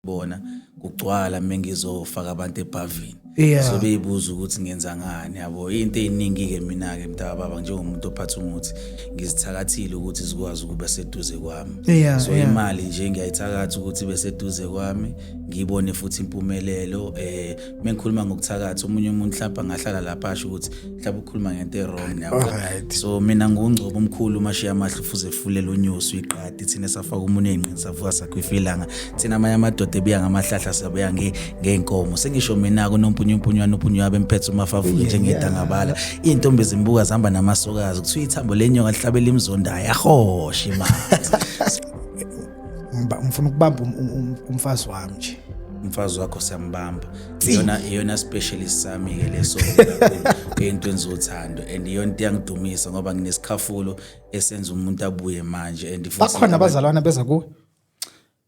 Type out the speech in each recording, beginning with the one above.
bona kugcwala mengizofaka abantu ebhavini yeah. so beyibuza ukuthi ngenza ngani yabo into eyiningi-ke mina-ke mntaka baba njengomuntu ophatha umuthi ngizithakathile ukuthi zikwazi ukuba seduze kwami yeah, so yeah. imali nje ngiyayithakatha ukuthi ibe seduze kwami ngiyibone futhi impumelelo um uma ngikhuluma ngokuthakatha omunye umuntu mhlawumbe angahlala lapha asho ukuthi mhlawumbe ukhuluma ngento e-wrong Alright. so mina ngungcobo omkhulu umashiya amahle ufuze efulele unyosi uyiqadi thina safaka umuntu eyinqini savuka sakhwifa ilanga thina amanye amadoda ebuya ngamahlahla sabuya nge- ngey'nkomo sengisho mina-ke unompunyumpunywana upunywa abe mphethe umafavuke njengedangabala iy'ntombi ezimbuka zihamba namasokazi kuthiwa ithambo lenyoka lihlabela imzondayo ahoshe manje ngiba- ngifuna ukubamba um- um- um- umfazi wami nje umfazi wakho siyambamba iyona iyona specialist sami ke leso into enzothando and iyona into yangidumisa ngoba nginesikhafulo esenza umuntu abuye manje and futhi- bakhona abazalwana beza kuwe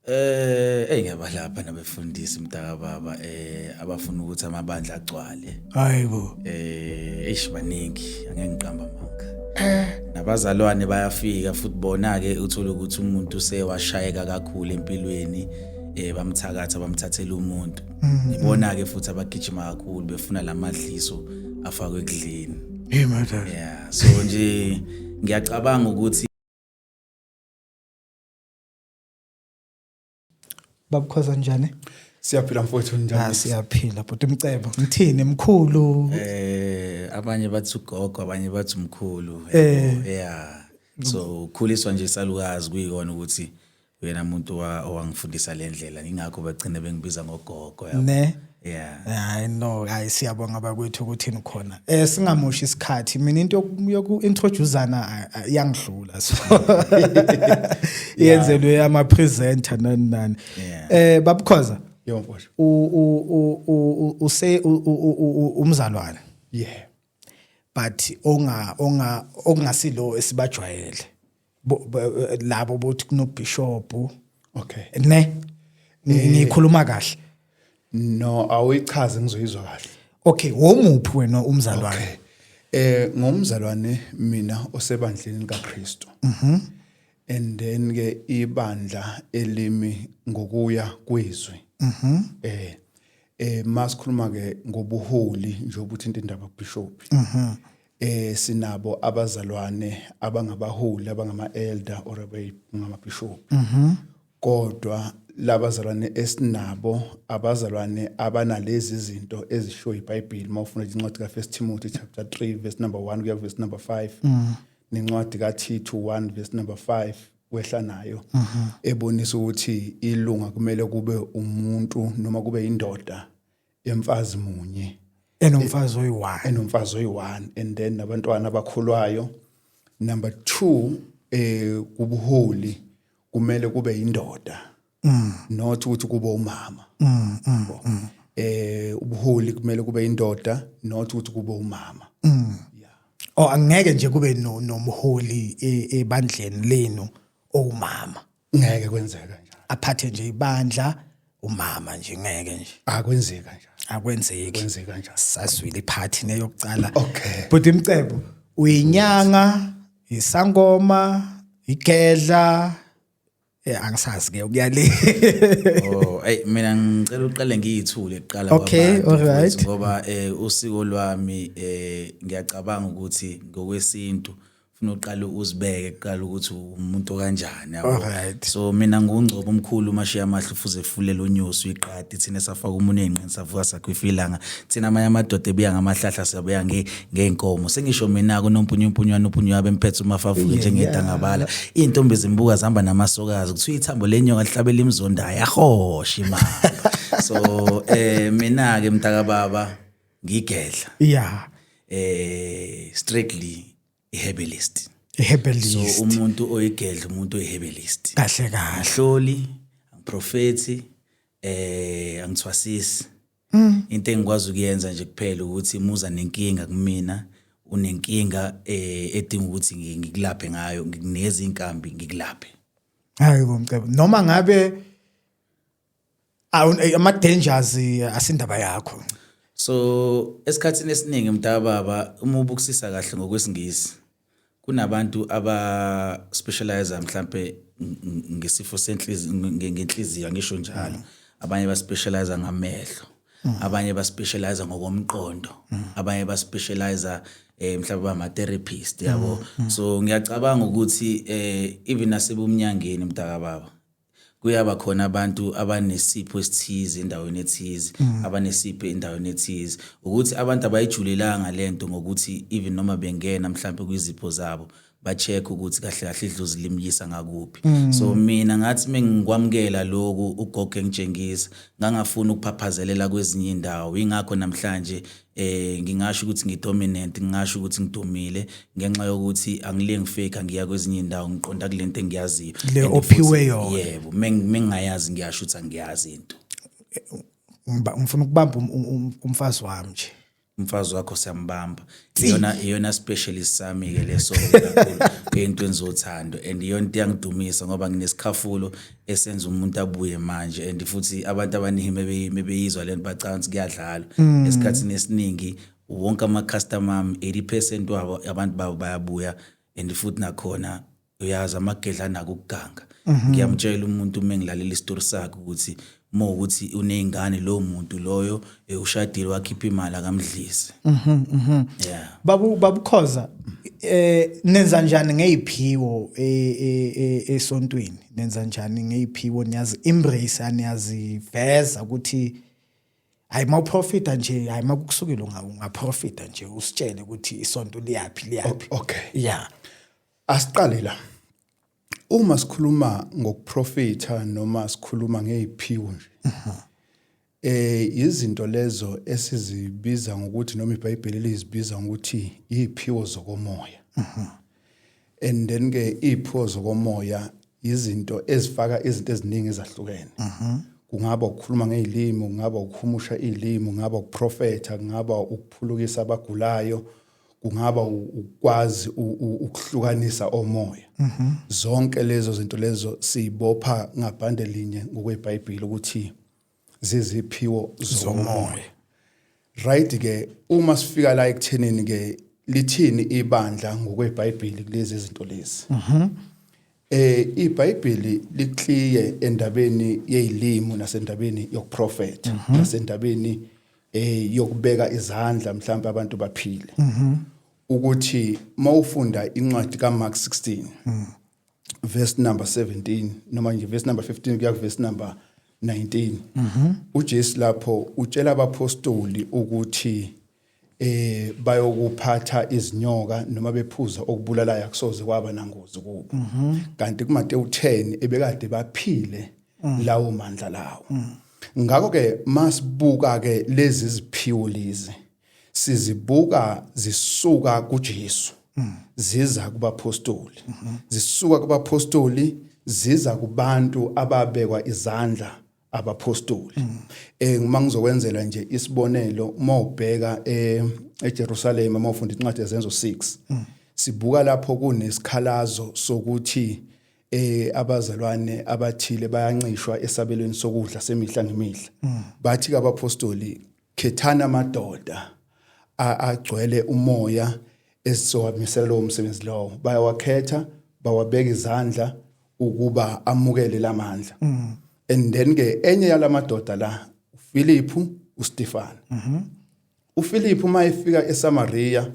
eh hey ngiyabalapha nabe fundisi mntaka baba eh abafuna ukuthi amabandla agcwale hayibo eh eish baningi angeke ngiqamba manga eh. nabazalwane bayafika futhi bona ke uthola ukuthi umuntu sewashayeka kakhulu empilweni eh bamthakatha bamthathela umuntu mm-hmm. ibona ke futhi abagijima kakhulu befuna lamadliso afakwe ekudleni hey mother yeah so nje ngiyacabanga ukuthi babukhoza njani siyaphila mfowethu njani ah, siyaphila bhuti umcebo ngithini mkhulu eh abanye bathi ugogo abanye bathi umkhulu eh yeah so ukhuliswa nje salukazi kuyikona ukuthi uyena muntu owangifundisa le ndlela ingakho bagcine bengibiza ngogogo yabo ne yeah hayi no hayi siyabonga bakwethu ukuthi nikhona eh singamoshi isikhathi mina into yoku introduceana yangidlula so yenzelwe ama presenter nani nani eh babukhoza yomfosho u u u say umzalwane yeah but onga onga okungasilo esibajwayele labo bothi kunobishop okay ne eh. ngikhuluma kahle no awichaze ngizoyizwa kahle okay womuphi wena umzalwane okay. eh ngomzalwane mina osebandleni likaKristu mhm mm and then ke ibandla elimi ngokuya kwezwi mhm mm eh eh masikhuluma ke ngobuholi nje ukuthi into indaba bishop mhm mm eh sinabo abazalwane abangabaholi abangama elder or abangama bishop mhm kodwa labazalwane esinabo abazalwane abanalezi zinto ezisho iBhayibheli mawufuna incwadi ka First Timothy chapter 3 verse number 1 kuya verse number 5 mhm. nencwadi ka Tito 1 verse number 5 wehla nayo mhm. ebonisa ukuthi ilunga kumele kube umuntu noma kube indoda emfazi munye enomfazi oyi-one enomfazi oyi-one and then nabantwana abakhulwayo number two eh kubuholi kumele kube yindoda mm. not ukuthi kube umama mm, mm, mm. eh ubuholi kumele kube indoda not ukuthi kube umama mm. yeah. oh angeke nje kube no nomholi e, ebandleni lenu owumama ngeke kwenzeke nje aphathe nje ibandla umama nje ngeke nje akwenzeka nje akwenzeki kwenzeka nje saswile iphathi neyokucala okay but imcebo uyinyanga isangoma igedla Eh angisazi ke ukuyale. Oh, ay mina ngicela uqale ngiyithule kuqala kwabantu. Okay, all right. Ngoba eh usiko lwami eh ngiyacabanga ukuthi ngokwesintu funa uqale uzibeke kuqala ukuthi umuntu kanjani yabo so mina ngungcobo omkhulu umashiya amahle ufuze efulele unyosi uyiqadi thina safaka umuntu eyinqini savuka sakhwifa ilanga thina amanye amadoda ebuya ngamahlahla siyabuya ngey'nkomo sengisho mina kunompunyumpunywana uphunywa bemphethe uma favuke njengedangabala iy'ntombi zimbuka zihamba namasokazi kuthiwa ithambo lenyoka lihlabela imizondayo ahoshe imali so um mina-ke mntakababa ngigedla yeah eh strictly iherbalist iherbalist so umuntu oyigedla umuntu oyiherbalist kahle kahle ahloli angiprofethi eh angithwasisi mm. into engikwazi ukuyenza nje kuphela ukuthi muza nenkinga kumina unenkinga eh edinga ukuthi ngikulaphe ngayo ngikunikeza inkambi ngikulaphe hayi bomcebo noma ngabe eh, ama dangers eh, asindaba yakho so esikhathini esiningi mntababa uma ubukusisa kahle ngokwesingisi kunabantu aba specialize mhlambe ngesifo senhliziyo ngenhliziyo angisho njalo mm. abanye ba specialize ngamehlo mm. abanye ba specialize ngokomqondo mm. abanye ba specialize eh mhlawumbe bama therapist yabo mm, mm. so ngiyacabanga ukuthi eh even nasebumnyangeni mntaka baba kuyaba khona abantu abanesipho esithize endaweni ethize mm. abanesipho endaweni ethize ukuthi abantu abayijulelanga lento ngokuthi even noma bengena mhlawumbe kwizipho zabo ba-check ukuthi kahle kahle idlozi limyisa ngakuphi mm. so mina ngathi mengikwamukela lokhu ugogo engitshengisa ngangafuni ukuphaphazelela kwezinye indawo yingakho namhlanje eh ngingasho ukuthi ngidominant ngingasho ukuthi ngidumile ngenxa yokuthi angile ngifake ngiya kwezinye indawo ngiqonda kulento engiyaziyo le ophiwe yona yebo mengingayazi ngiyasho ukuthi angiyazi into ngifuna ukubamba um, um, um, umfazi wami nje umfazi wakho siyambamba iyona iyona specialist sami ke leso kakhulu eyintweni zothando and iyona into yangidumisa ngoba nginesikhafulo esenza umuntu abuye manje and futhi abantu abaningi mebeyizwa lento bacanga ukuthi kuyadlalwa mm. esikhathini esiningi wonke ama-customer ami 80 percent wabo abantu babo bayabuya and futhi nakhona uyazi amagedla anako ukuganga mhm. ngiyamtshela umuntu uma engilalela isitori sakhe ukuthi uma ukuthi uney'ngane lowo muntu loyo eh, ushadile wakhipha imali akamdlisi mhm, mhm. babukhoza um eh, nenza njani ngey'phiwo e, e, e, esontweni nenza njani ngeyiphiwo niyazi embrace aniyaziveza ukuthi hayi mawuprofita nje hayi makukusukile ungaprofita nje usitshele ukuthi isonto liyaphi liyaphi okay yeah asiqale la uma sikhuluma ngokuprofita noma sikhuluma ngeyiphiwo nje mhm. Eh izinto lezo esizibiza ngokuthi noma iBhayibheli lizibiza ngokuthi iziphiwo zokomoya. Mhm. And then ke iziphiwo zokomoya izinto ezifaka izinto eziningi ezahlukene. Mhm. Kungaba ukukhuluma ngezilimi, kungaba ukuhumusha izilimi, kungaba ukuprofetha, kungaba ukuphulukisa abagulayo, kungaba ukwazi ukuhlukanisa omoya. Mhm. Zonke lezo zinto lezo sibopha ngabhande linye ngokweBhayibheli ukuthi zeziphiwo zomoya right ke uma sifika la ekuthenini ke lithini ibandla ngokweBhayibheli kulezi zinto lezi mhm eh iBhayibheli likliye endabeni yezilimo nasendabeni yokuprofeta mhm. nasendabeni eh yokubeka izandla mhlawumbe abantu baphile mhm. ukuthi mawufunda incwadi kaMark 16 mhm. verse number 17 noma nje verse number 15 kuya verse number 19 mhm uJesu lapho utshela abapostoli ukuthi eh bayokuphatha izinyoka noma bephuza okubulalayo akusoze kwaba nangozi kubo mhm. kanti kuMateyu 10 ebekade baphile mm. lawo mandla lawo mm. ngakho ke masibuka ke lezi ziphiwo lezi sizibuka zisuka kuJesu mm. ziza kubapostoli mm -hmm. zisuka kubapostoli ziza kubantu ababekwa izandla abapostoli mm. eh uma ngizokwenzela nje isibonelo uma ubheka eh, eJerusalem uma ufunda incwadi yezenzo 6 mm. sibuka lapho kunesikhalazo sokuthi eh abazalwane abathile bayancishwa esabelweni sokudla semihla ngemihla mm. bathi kabapostoli Khethani amadoda agcwele umoya esizowamisela lowo msebenzi lowo. Bayawakhetha, bawabeka izandla ukuba amukele lamandla. Mm. And then ke enye yalamadoda la uFiliphu uStefano. Mhm. UFiliphu uma efika eSamaria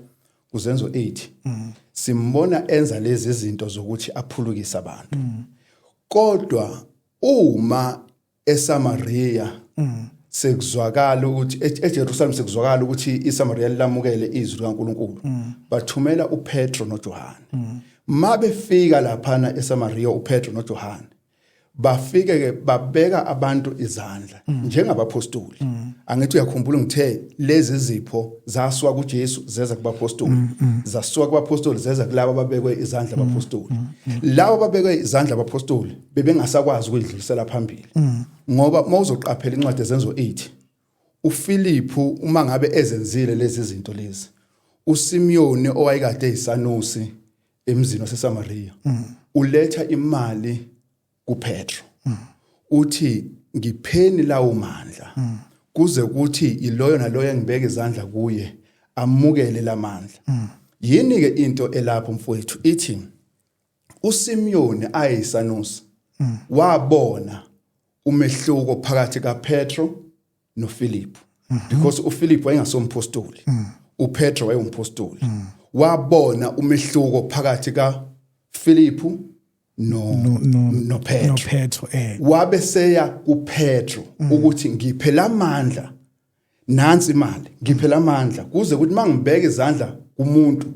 kuzenzo 8 mm. simbona enza lezi zinto zokuthi aphulukise abantu. Mm. Kodwa uma eSamaria mm. sekuzwakala ukuthi e-, eJerusalem sekuzwakala ukuthi iSamaria lilamukele izwi likaNkuluNkulu mm. bathumela uPetro noJohane mm. mabefika laphana eSamaria uPetro noJohane bafike ke babeka abantu izandla mm. njengabaphostoli mm. angithi uyakhumbula ngithe lezi zipho zaswa kuJesu zeza kubapostoli mm, mm. zaswa kubapostoli zeza kulabo babekwe izandla mm, abapostoli mm, mm, mm. labo babekwe izandla abapostoli bebengasakwazi ukuyidlulisela phambili mm. ngoba uma uzoqaphela incwadi ezenzo 8 uFiliphu uma ngabe ezenzile lezi zinto lezi uSimiyoni owayekade eyisanusi emzini waseSamaria mm. uletha imali kuPetro mm. uthi ngipheni lawo mandla mm. kuze ukuthi iloyo naloyo engibeke izandla kuye amukele lamandla mm. yini ke into elapho mfowethu ithi uSimyoni ayisanusi hmm. wabona umehluko phakathi kaPetro noFiliphu hmm. because uFiliphu wayengasompostoli hmm. uPetro wayewumpostoli wabona umehluko phakathi kaFiliphu no no, no, no Petro, no Petro eh. wabe seya kuPetro ukuthi ngiphe lamandla nansi imali ngiphela amandla kuze ukuthi mangibeke izandla kumuntu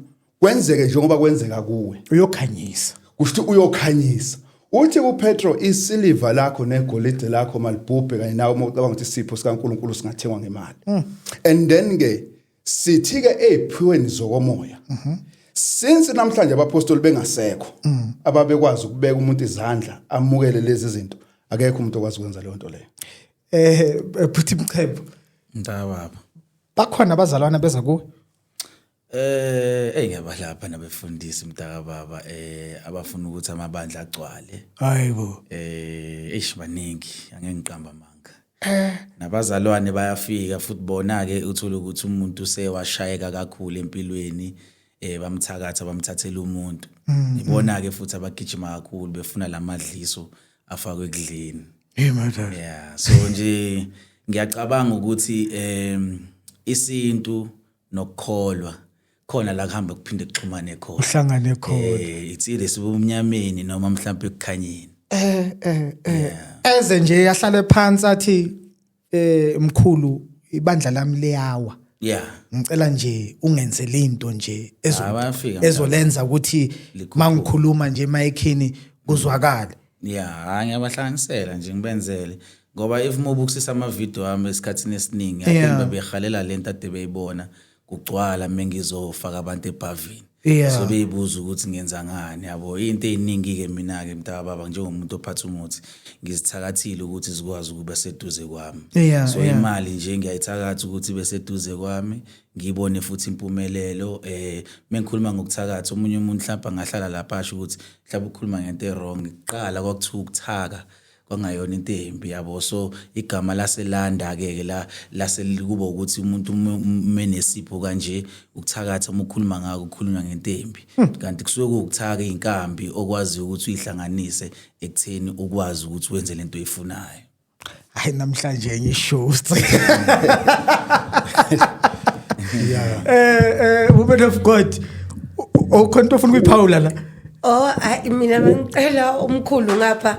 kwenzeke njengoba kwenzeka kuwe uyokhanyisa kusho ukuthi uyokhanyisa uthi kupetro isiliva lakho negolide lakho malibhubhe kanye nawe uma ucabanga ukuthi isipho sikaNkuluNkulu singathengwa ngemali mm. and then ke sithi ke eziphiweni zokomoya mhm. since namhlanje abapostoli bengasekho mm. ababekwazi ukubeka umuntu izandla amukele lezi zinto akekho umuntu okwazi ukwenza leyo nto leyo eh phuthi mchebo ndababa bakhona abazalwana beza kuwe Eh hey ngiyabadlapha nabefundisi mntaka baba eh abafuna ukuthi amabandla agcwale. Hayibo. Eh eish baningi angeke ngiqamba amanga. Eh. Nabazalwane bayafika futhi bona ke uthola ukuthi umuntu sewashayeka kakhulu empilweni eh bamthakatha bamthathela umuntu. Mm, mm. Ibona ke futhi abagijima kakhulu befuna lamadliso afakwe ekudleni hey madala yeah so nje ngiyacabanga ukuthi em isintu nokukholwa khona la kuhamba kuphinde kuxhumane khona uhlangane khona eh it's either sibumnyameni noma mhlawumbe ekukhanyeni eh eh eh eze nje yahlale phansi athi eh mkhulu ibandla lami liyawa yeah ngicela nje ungenzele into nje ezo- Ah, bayafika, ezolenza ukuthi Likhuphuke. mangikhuluma nje emayikhini kuzwakale ya hayi ngiyabahlanganisela nje ngibenzele ngoba if mobukisisa amavidiyo ami esikhathini esiningi Yeah. athemba behalela lento ade beyibona kugcwala mengizofaka abantu ebhavini yeah. so beyibuza ukuthi ngenza ngani yabo into eziningi-ke mina-ke mntaka baba njengomuntu ophatha umuthi ngizithakathile ukuthi zikwazi ukuba seduze kwami yeah, so yeah. imali nje ngiyayithakatha ukuthi ibe seduze kwami ngibone futhi impumelelo eh mengikhuluma ngokuthakatha omunye umuntu mhlawumbe angahlala lapha asho ukuthi mhlawumbe ukhuluma ngento erong kuqala kwakuthiwa ukuthaka kwangayona into embi yabo so igama laselanda ke ke la laselikuba ukuthi umuntu menesipho kanje ukuthakatha uma ukhuluma ngako ukhuluma ngento embi hmm. kanti kusuke kuwukuthaka inkambi okwazi ukuthi uyihlanganise ekutheni ukwazi ukuthi wenze lento oyifunayo hayi namhlanje enye show yeah eh eh woman of god okhona into ofuna ukuyiphawula la Oh hayi mina bengicela umkhulu ngapha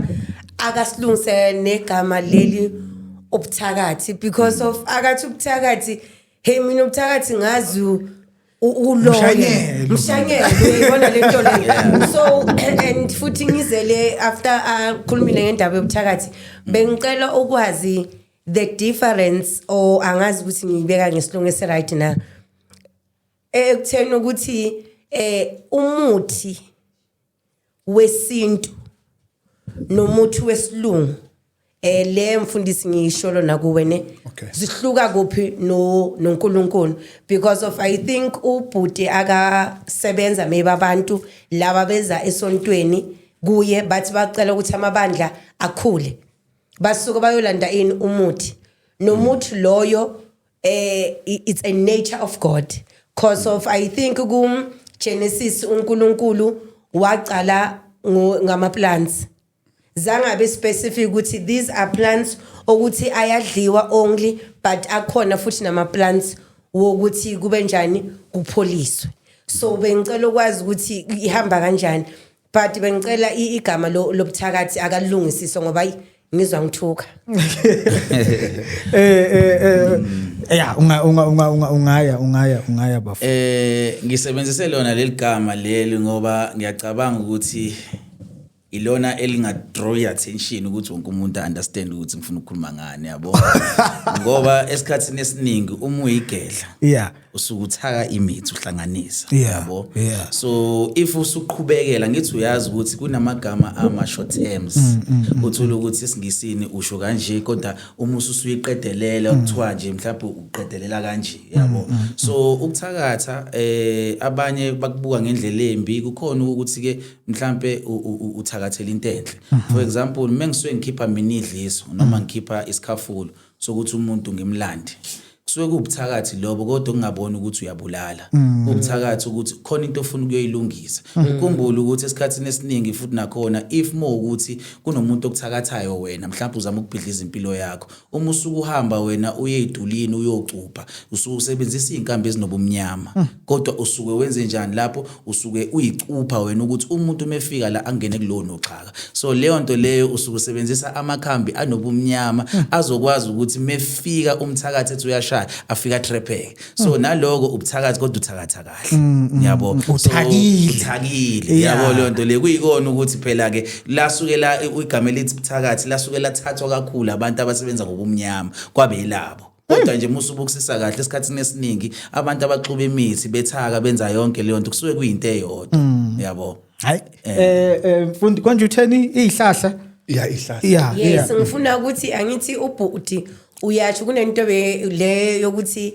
akasilungise negama leli ubuthakathi because of akathi ubuthakathi hey mina ubuthakathi ngazi u- u- uloya Mshanyelo. mshanyelo uyayibona le nto le so and futhi ngizele after akhulumile ngendaba yobuthakathi bengicela ukwazi the difference or angazi ukuthi ngiyibeka ngesilungu esiright na Eh, ekutheni ukuthi eh umuthi wesintu nomuthi wesilungu eh le mfundisi ngiyisholo nakuwe ne Okay. zihluka kuphi no noNkulunkulu because of i think ubhuti akasebenza maybe abantu laba beza esontweni kuye bathi bacela ukuthi amabandla akhule basuke bayolanda ini umuthi nomuthi loyo eh it's a nature of god cause of i think ku genesis unkulunkulu waqala ngama plants zangabe specific ukuthi these are plants okuthi ayadliwa only but akhona futhi nama plants wokuthi kube njani kupholiswe so bengicela ukwazi ukuthi ihamba kanjani but bengicela i- igama lo- lobuthakathi akalungisiswe ngoba ayi, ngizwa ngithuka eh eh eh ya unga unga unga unga- ungaya ungaya ungaya bafo Eh ngisebenzise lona leli gama leli ngoba ngiyacabanga ukuthi ilona elinga draw your attention ukuthi wonke umuntu understand ukuthi ngifuna ukukhuluma ngani yabo ngoba esikhatsini esiningi uma uyigedla yeah usuke uthaka imithi uhlanganisa yabo yeah, yeah. so if usuqhubekela ngithi uyazi ukuthi kunamagama ama short terms mm, mm, mm. uthula mm. ukuthi isingisini usho kanje kodwa uma ususuyiqedelela mm. kuthiwa nje mhlawumbe uqedelela kanje yabo mm, mm, so ukuthakatha eh abanye bakubuka ngendlela embi kukhona ukuthi ke mhlawumbe uthakathela into enhle mm-hmm. for example mengisuke ngikhipha mina idliso noma ngikhipha isikhafulo sokuthi umuntu ngimlande kusuke kubuthakathi lobo kodwa ungaboni ukuthi uyabulala mm. ubuthakathi ukuthi khona into ofuna ukuyoyilungisa mm. ukhumbule ukuthi esikhathini esiningi futhi nakhona if more ukuthi kunomuntu okuthakathayo wena mhlawumbe uzama ukubhidliza impilo yakho uma usuku uhamba wena uye idulini uyocupha usuke usebenzisa izinkambi ezinobumnyama mm. kodwa usuke wenze njani lapho usuke uyicupha wena ukuthi umuntu umefika la angene kulona uxhaka so leyo nto leyo usuke usebenzisa amakhambi anobumnyama hmm. azokwazi ukuthi mefika umthakathi ethi uyashaya afika trepheke so hmm. naloko ubuthakathi kodwa uthakatha kahle hmm, ngiyabo uthakile ngiyabo leyo nto le kuyikona ukuthi phela ke lasuke la igama elithi buthakathi lasuke lathathwa kakhulu abantu abasebenza ngobumnyama kwabelabo kodwa nje musa ubukisisa kahle esikhathini esiningi abantu abaxuba imithi bethaka benza yonke leyo nto kusuke kuyinto eyodwa mm. yabo hayi eh. eh, eh mfundi konje utheni izihlahla ya izihlahla ya yes ngifuna ukuthi angithi ubhuti uyasho kunento le yokuthi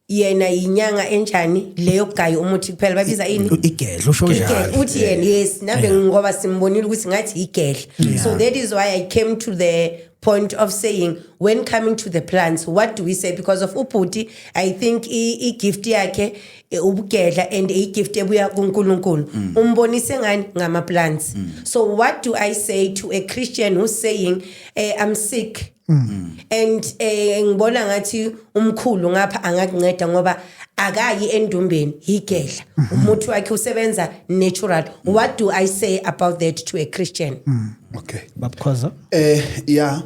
yena yinyanga enjani leyo gayi umuthi kuphela babiza ini igedla usho njalo uthi yena yes nave ngoba simbonile ukuthi ngathi igedla so that is why i came to the point of saying when coming to the plants what do we say because of ubhuti i think i-gift yakhe e, ubugedla and i-gift ebuya kunkulunkulu mm. umbonise ngani ngama-plants mm. so what do i say to a christian who's saying eh, i'm sick mm. and eh, ngibona ngathi umkhulu ngapha angakunceda ngoba akayi endumbeni yigedla mm -hmm. umuthi wakhe usebenza natural mm. what do i say about that to a christian mm. okay babukhoza Eh ya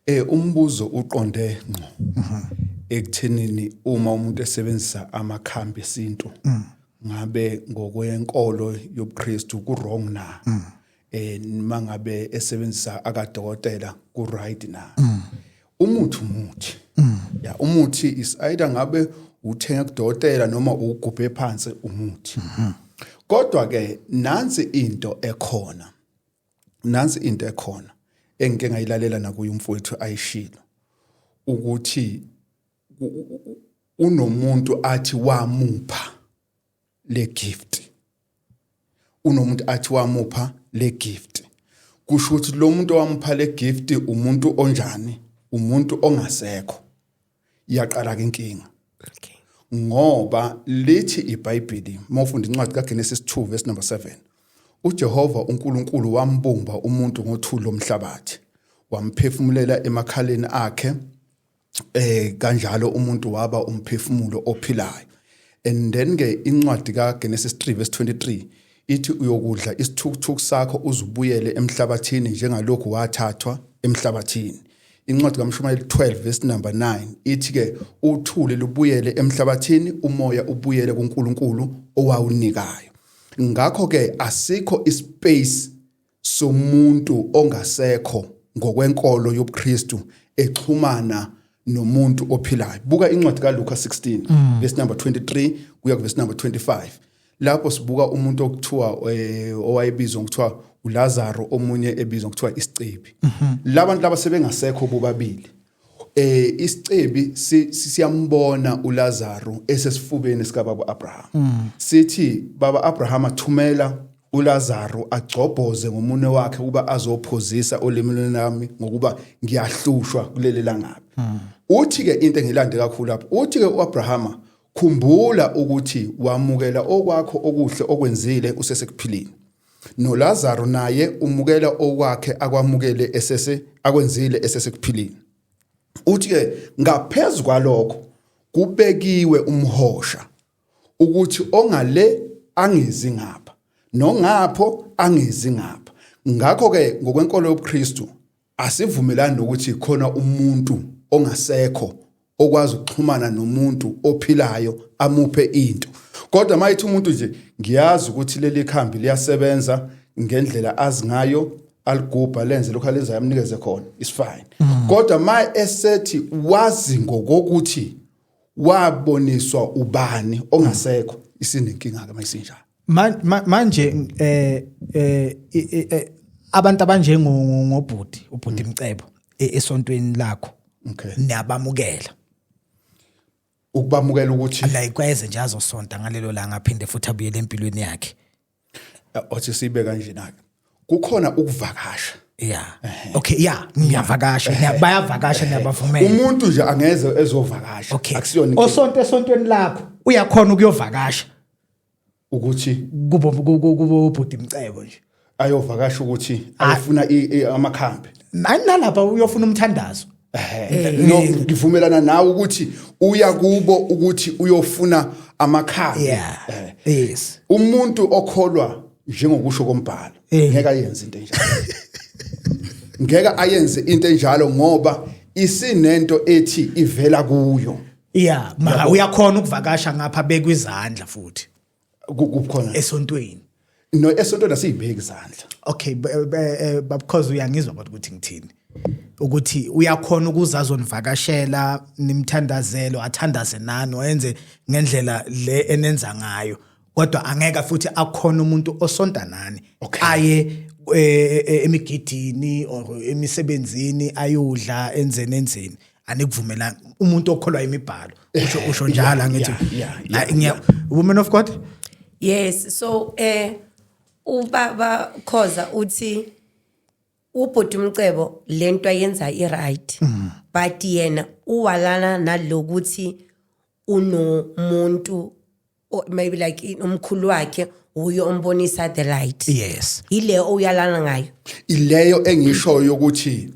eh umbuzo uqonde ngqo mhm. ekuthenini uma umuntu esebenzisa amakhambi esintu mm. ngabe ngokwenkolo yobuKristu ku wrong na mm. eh mangabe esebenzisa akadokotela ku right na mm. umuthi umuthi ya umuthi is either ngabe uthenga kudokotela noma ugubhe phansi umuthi mhm. kodwa ke nansi into ekhona nansi into ekhona engike ngayilalela nakuye umfowethu ayishilo ukuthi unomuntu athi wamupha le gift unomuntu athi wamupha le gift kusho ukuthi lo muntu owamupha le gift umuntu onjani umuntu ongasekho iyaqala ke inkinga okay ngoba lithi iBhayibheli mawufunda incwadi kaGenesis 2 verse number 7 uJehova uNkulunkulu wambumba umuntu ngothuli lomhlabathi wamphefumulela emakhaleni akhe eh kanjalo umuntu waba umphefumulo ophilayo and then ke incwadi kaGenesis 3 verse 23 ithi uyokudla isithukuthuku sakho uzubuyele emhlabathini njengalokhu wathathwa emhlabathini Incwadi kaMshumayeli 12 verse number 9 ithi ke uthuli lubuyele emhlabathini umoya ubuyele kuNkulunkulu owawunikayo. Ngakho ke asikho ispace somuntu ongasekho ngokwenkolo yobuKristu exhumana nomuntu ophilayo. Buka incwadi kaLuka 16 mm. verse number 23 kuya ku verse number 25. lapho sibuka umuntu okuthiwa eh, owayebizwa ngokuthiwa uLazaro omunye ebizwa ngokuthiwa isicebi mhm. labantu laba sebengasekho bobabili eh isicebi siyambona uLazaro esesifubeni sikababa Abraham mm. sithi baba Abraham athumela uLazaro agcobhoze ngomunwe wakhe ukuba azophozisa olimini lami ngokuba ngiyahlushwa kuleli langabi mm. uthi ke into engilande kakhulu lapho uthi ke uAbrahama Khumbula ukuthi wamukela okwakho okuhle okwenzile usesekuphilini. NoLazaru naye umukela okwakhe akwamukele esese akwenzile esesekuphilini. Uthi ke ngaphezulu kwalokho kubekiwe umhosha ukuthi ongale angezi ngapha nongapho angezi ngapha. Ngakho ke ngokwenkolo yobuKristu Asivumelani nokuthi khona umuntu ongasekho okwazi ukuxhumana nomuntu ophilayo amuphe into kodwa mayithi umuntu nje ngiyazi ukuthi leli khambi liyasebenza ngendlela azi ngayo aligubha lenze lokho alenzayo amnikeze khona is fine mm. kodwa ma esethi wazi ngokokuthi waboniswa ubani ongasekho isinenkinga ke mayisinjalo manje eh eh, eh, eh abantu abanjengo ngobhuti ubhuti mm. Mcebo e, esontweni lakho okay niyabamukela ukubamukela ukuthi la ikweze nje azosonta ngalelo langa aphinde futhi abuyele empilweni yakhe eh, othi sibe kanje nake kukhona ukuvakasha yeah okay yeah ngiyavakasha eh. bayavakasha niyabavumela umuntu nje angeze ezovakasha akusiyona osonto esontweni lakho uyakhona ukuyovakasha ukuthi kubo kubo kubo bhuti mcebo nje ayovakasha ukuthi ayofuna i- i- amakhambi nani nalapha uyofuna umthandazo Eh, No, ngivumelana nawe ukuthi uya kubo ukuthi uyofuna amakhambi yeah Eh, yes umuntu okholwa njengokusho kombhalo Eh. ngeke ayenze into enjalo ngeke ayenze into enjalo ngoba isinento ethi ivela kuyo yeah ma Yabo. uyakhona ukuvakasha ngapha bekwe izandla futhi Ku- kukhona esontweni no esontweni asiyibheki izandla okay b- b- eh, babcoz uyangizwa kodwa ukuthi ngithini ukuthi uyakhona ukuza azonivakashela nimthandazelo athandaze nani oyenze ngendlela le enenza ngayo kodwa angeka futhi akhona umuntu osonta nani okay. aye e, e, e, emigidini or emisebenzini ayodla enzeni enzeni anikuvumelani umuntu okholwa imibhalo usho usho njalo angithi ngiya woman of god yes so eh ubaba khoza uthi ubhuti umcebo lento ayenza i right mm. but yena uwalana nalokuthi unomuntu or maybe like in- umkhulu wakhe wuye ombonisa the light yes yileyo oyalana ngayo ileyo engishoyo yokuthi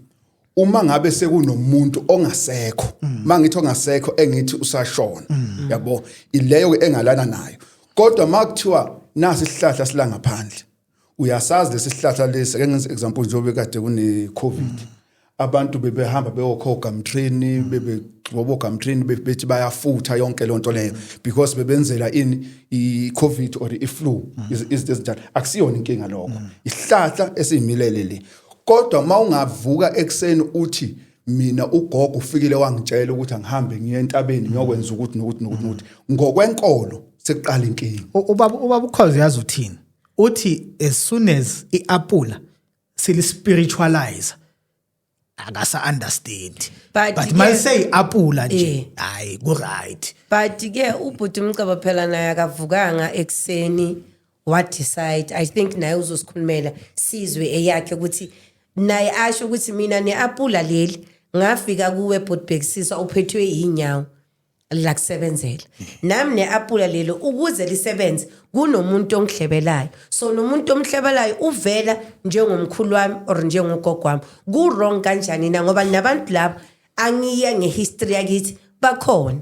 uma ngabe sekunomuntu ongasekho mangithi ongasekho engithi usashona yabo ileyo ke engalana nayo kodwa makuthiwa nasi isihlahla silangaphandle uyasazi lesihlahla lesi ake ngenze example njengoba kade kune covid abantu bebehamba beyokhoga mtreni bebe ngoboga mtreni bethi bayafutha yonke lonto leyo because bebenzela in i covid or i flu izinto ezinjalo akusiyona inkinga lokho isihlahla esimilele le kodwa mawungavuka ekseni uthi mina ugogo ufikile wangitshela ukuthi angihambe ngiye entabeni ngiyokwenza ukuthi nokuthi nokuthi ngokwenkolo sekuqala inkingi ubaba ubaba ukhoze yazi uthini uthi as soon as iapula silispiritualize akasa understand but, but my say apula nje eh. hayi ku right but ke ubhuti umcebo phela naye akavukanga ekseni what decide i think naye uzosikhulumela sizwe eyakhe ukuthi naye asho ukuthi mina neapula leli ngafika kuwe bhutibhekisisa uphethwe yinyawo la kusebenzela nami ne-apula lelo ukuze lisebenze kunomuntu ongihlebelayo so nomuntu omhlebelayo uvela njengomkhulu wami or njengogogo wami ku-wrong kanjani na ngoba nabantu laba angiye ngehistory yakithi bakhona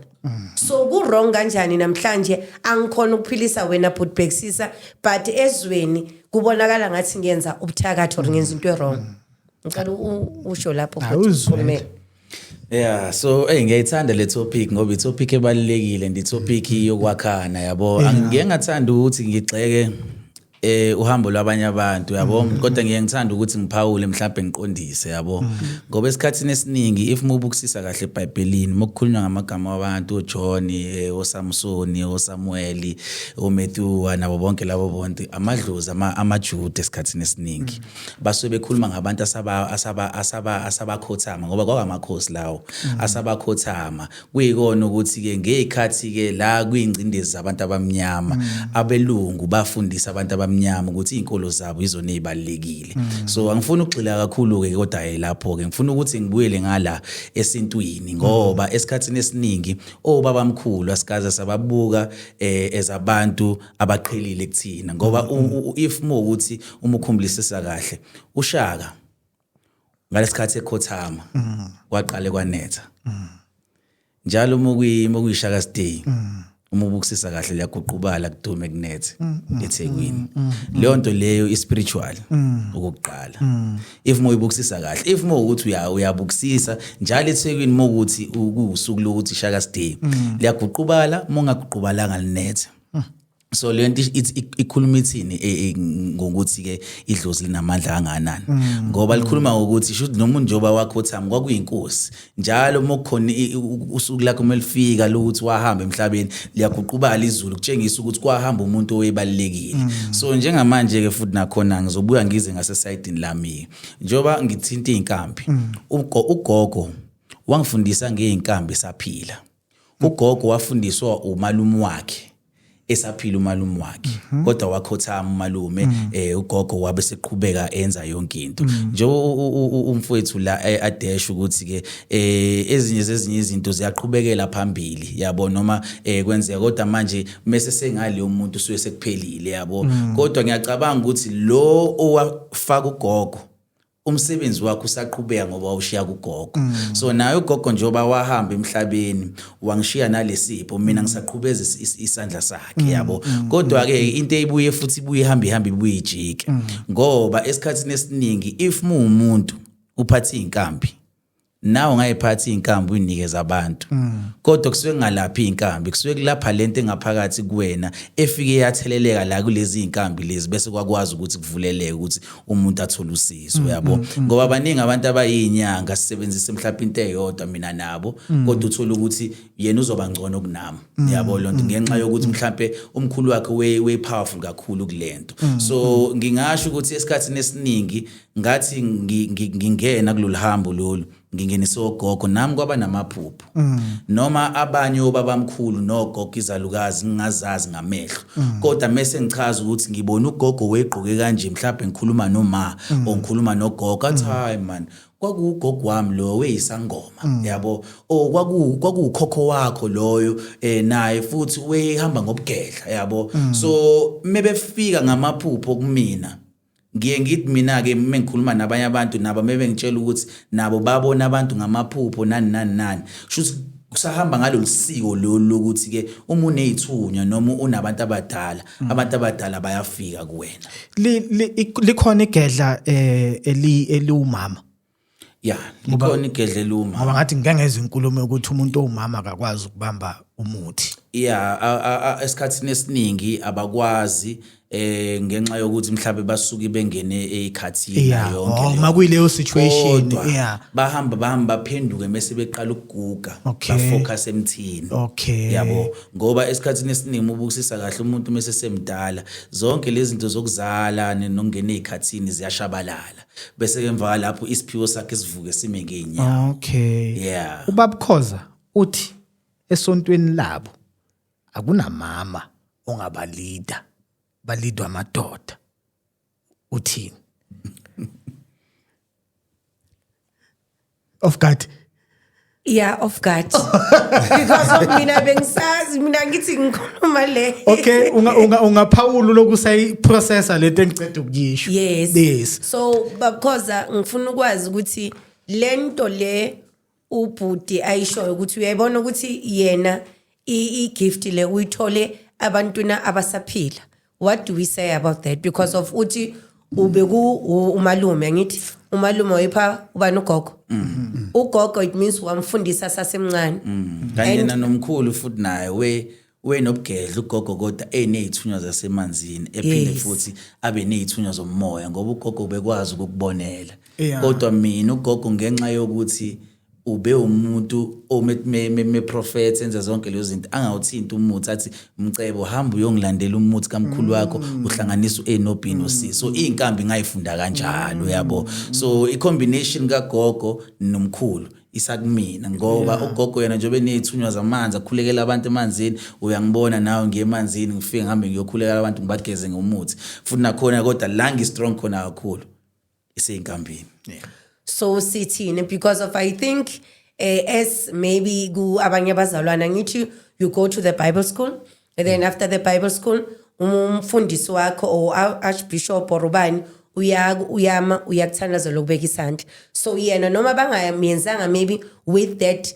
so ku-wrong kanjani namhlanje angikhona ukuphilisa wena bhuti bhekisisa but ezweni kubonakala ngathi ngiyenza ubuthakathi or ngenza into e-wrong ngicela usho lapho awuzwele Yeah so hey ngiyayithanda le topic ngoba i topic ebalekile ndi topic yokwakhana yabo angike ngathanda ukuthi ngigxeke eh uhambo lwabanye abantu yabo mm. kodwa ngiye ngithanda ukuthi ngiphawule mhlawumbe ngiqondise yabo mm. ngoba esikhathini esiningi if mubukusisa kahle eBhayibhelini mokukhulunywa ngamagama wabantu oJohn eh, oSamson oSamuel oMatthew nabo bonke labo bonke amadlozi amaJuda esikhathini esiningi mm. basuke bekhuluma ngabantu asaba asaba asaba asabakhothama ngoba kwakamakhosi lawo mm. asabakhothama kuyikona ukuthi ke ngezikhathi ke la kuyingcindezi zabantu abamnyama mm. abelungu bafundisa abantu abamnyama ukuthi izinkolo zabo izona ezibalekile mm. so angifuni ukugxila kakhulu ke kodwa lapho ke ngifuna ukuthi ngibuyele ngala esintwini ngoba esikhatsini esiningi obabamkhulu asikaze sababuka eh ezabantu abaqhelile kuthina ngoba if mo ukuthi uma ukhumblisisa kahle ushaka ngalesikhathi ekhothama kwaqale kwanetha njalo uma kuyishaka stay uma ubukusisa kahle liyaguqubala kudume kunethe ethekwini leyo nto leyo ispiritual ukuqala if uma uyibukusisa kahle if uma ukuthi uyabukusisa njalo ethekwini uma ukuthi kuwusuku lokuthi shaka stay liyaguqubala uma ungaguqubalanga linethe Hmm. so le nto ikhuluma ithini e, e, ngokuthi-ke idlozi linamandla kangakanani mm. ngoba likhuluma ngokuthi shuthi nomuntu njengoba wakhothami kwakuyinkosi njalo uma kukhona usuku lakho uma lifika lokuthi wahamba emhlabeni liyaguqubala izulu kutshengisa ukuthi kwahamba umuntu owebalulekile mm. so njengamanje-ke futhi nakhona ngizobuya ngize ngasesayidini lami-ke njengoba ngithinta iy'nkambi mm. ugogo wangifundisa ngey'nkambi saphila ugogo wafundiswa umalume wakhe esaphila umalume wakhe mhm. kodwa wakhothama umalume mhm. eh ugogo wabe seqhubeka enza yonke into mhm. nje umfowethu la eh, adesha ukuthi ke eh ezinye zezinye izinto ziyaqhubekela phambili yabo noma eh kwenzeka kodwa manje mase sengale umuntu suye sekuphelile yabo kodwa ngiyacabanga ukuthi lo owafaka ugogo umsebenzi wakho usaqhubeka ngoba wawushiya kugogo mm. so naye ugogo njengoba wahamba emhlabeni wangishiya nalesipho mina mm. ngisaqhubeza isandla sakhe mm. yabo mm. kodwa ke mm. into eyibuye futhi ibuye ihamba ihamba ibuye ijike mm. ngoba esikhathini esiningi if muwumuntu uphatha izinkambi nawe ungayiphatha iy'nkambi uyinikeza abantu mm. kodwa kusuke kungalaphi iy'nkambi kusuke kulapha le nto engaphakathi kuwena efike yatheleleka la kulezi y'nkambi lezi bese kwakwazi ukuthi kuvuleleke ukuthi umuntu athole usizo mm, yabo mm, ngoba baningi abantu abayinyanga sisebenzise mhlawumbe into eyodwa mina nabo kodwa uthole ukuthi yena uzoba ngcono kunami yabo loo nto ngenxa yokuthi mhlawumbe umkhulu wakhe wey-powerful kakhulu kule nto so ngingasho ukuthi esikhathini esiningi ngathi ngingena kulolu hambo lolu ngingenise ogogo nami kwaba namaphupho mm. noma abanye obabamkhulu nogogo izalukazi ngingazazi ngamehlo mm. kodwa mese ngichaza ukuthi ngibona ugogo wegqoke kanje mhlawumbe ngikhuluma noma mm. ongikhuluma nogogo athi hayi man kwakuwugogo wami lowo weyisangoma mm. yabo o kwaku kwakukhokho wakho loyo eh naye futhi wehamba ngobugedla yabo mm. so mebefika ngamaphupho kumina ngiye ngithi mina-ke uma ngikhuluma nabanye abantu nabo mebengitshela ukuthi nabo babona abantu ngamaphupho nani nani nani shuthi kusahamba ngalolu siko lolu lokuthi-ke uma uney'thunywa noma unabantu abadala mm. abantu abadala bayafika kuwena likhona igedla um eliwumama ya likhona igedleluma ngoba ngathi ngike ngezwa inkulumo yokuthi umuntu owumama akakwazi ukubamba umuthi ya esikhathini esiningi abakwazi eh ngenxa yokuthi mhlawumbe basuke bengene ekhathini yeah. yonke oh, uma kuyileyo situation yeah bahamba bahamba baphenduke mase beqala ukuguga okay. bafocus emthini okay yabo ngoba esikhathini esiningi ubukisisa kahle umuntu mase semdala zonke lezi zinto zokuzala nokungena ezikhathini ziyashabalala bese ke emva lapho isiphiwo sakhe sivuke sime ngeenyawo okay yeah ubabkhoza uthi esontweni labo akunamama ongabalida balidwa amadoda uthini off guard Yeah, off guard. Because of mina bengisazi mina ngithi ngikhuluma le. Okay, unga unga ungaphawula lokusayi processor lento engicede ukuyisho. Yes. Yes. So because ngifuna ukwazi ukuthi lento le ubhuti ayishoyo ukuthi uyayibona ukuthi yena i gift le uyithole abantuna abasaphila. what do we say about that because of uthi ubeku u- umalume angithi umalume wayipha ubani ugogo Mm-hmm. ugogo it means wamfundisa sasemncane Mm. kanye And- nanomkhulu futhi naye we wenobugedla ugogo kodwa eneyithunywa zasemanzini ephinde Yes. futhi abe neyithunywa zomoya ngoba ugogo bekwazi ukukubonela Yeah. kodwa mina ugogo ngenxa yokuthi ube umuntu omeprofetha enza zonke lezo zinto angawuthinti umuthi athi mcebo hamba uyongilandela umuthi kamkhulu wakho mm. uhlanganisa u-a no-b no-c mm. so iy'nkambi ngayifunda kanjalo yabo mm. so i-combination kagogo nomkhulu isakumina ngoba yeah. ugogo yena njengoba eney'thunywa zamanzi akhulekela abantu emanzini uyangibona nawe ngiye emanzini ngifike ngihambe ngiyokhulekela abantu ngibageze ngomuthi futhi nakhona kodwa la ngi-strong khona kakhulu iseyinkambini yeah. so sithini because of i think uh, as maybe ku abanye abazalwana ngithi you go to the bible school and then after the bible school umfundisi wakho or archbishop or ubani uyaka uyama uyakuthandazela ukubeka isandla so yena noma bangamyenzanga maybe with that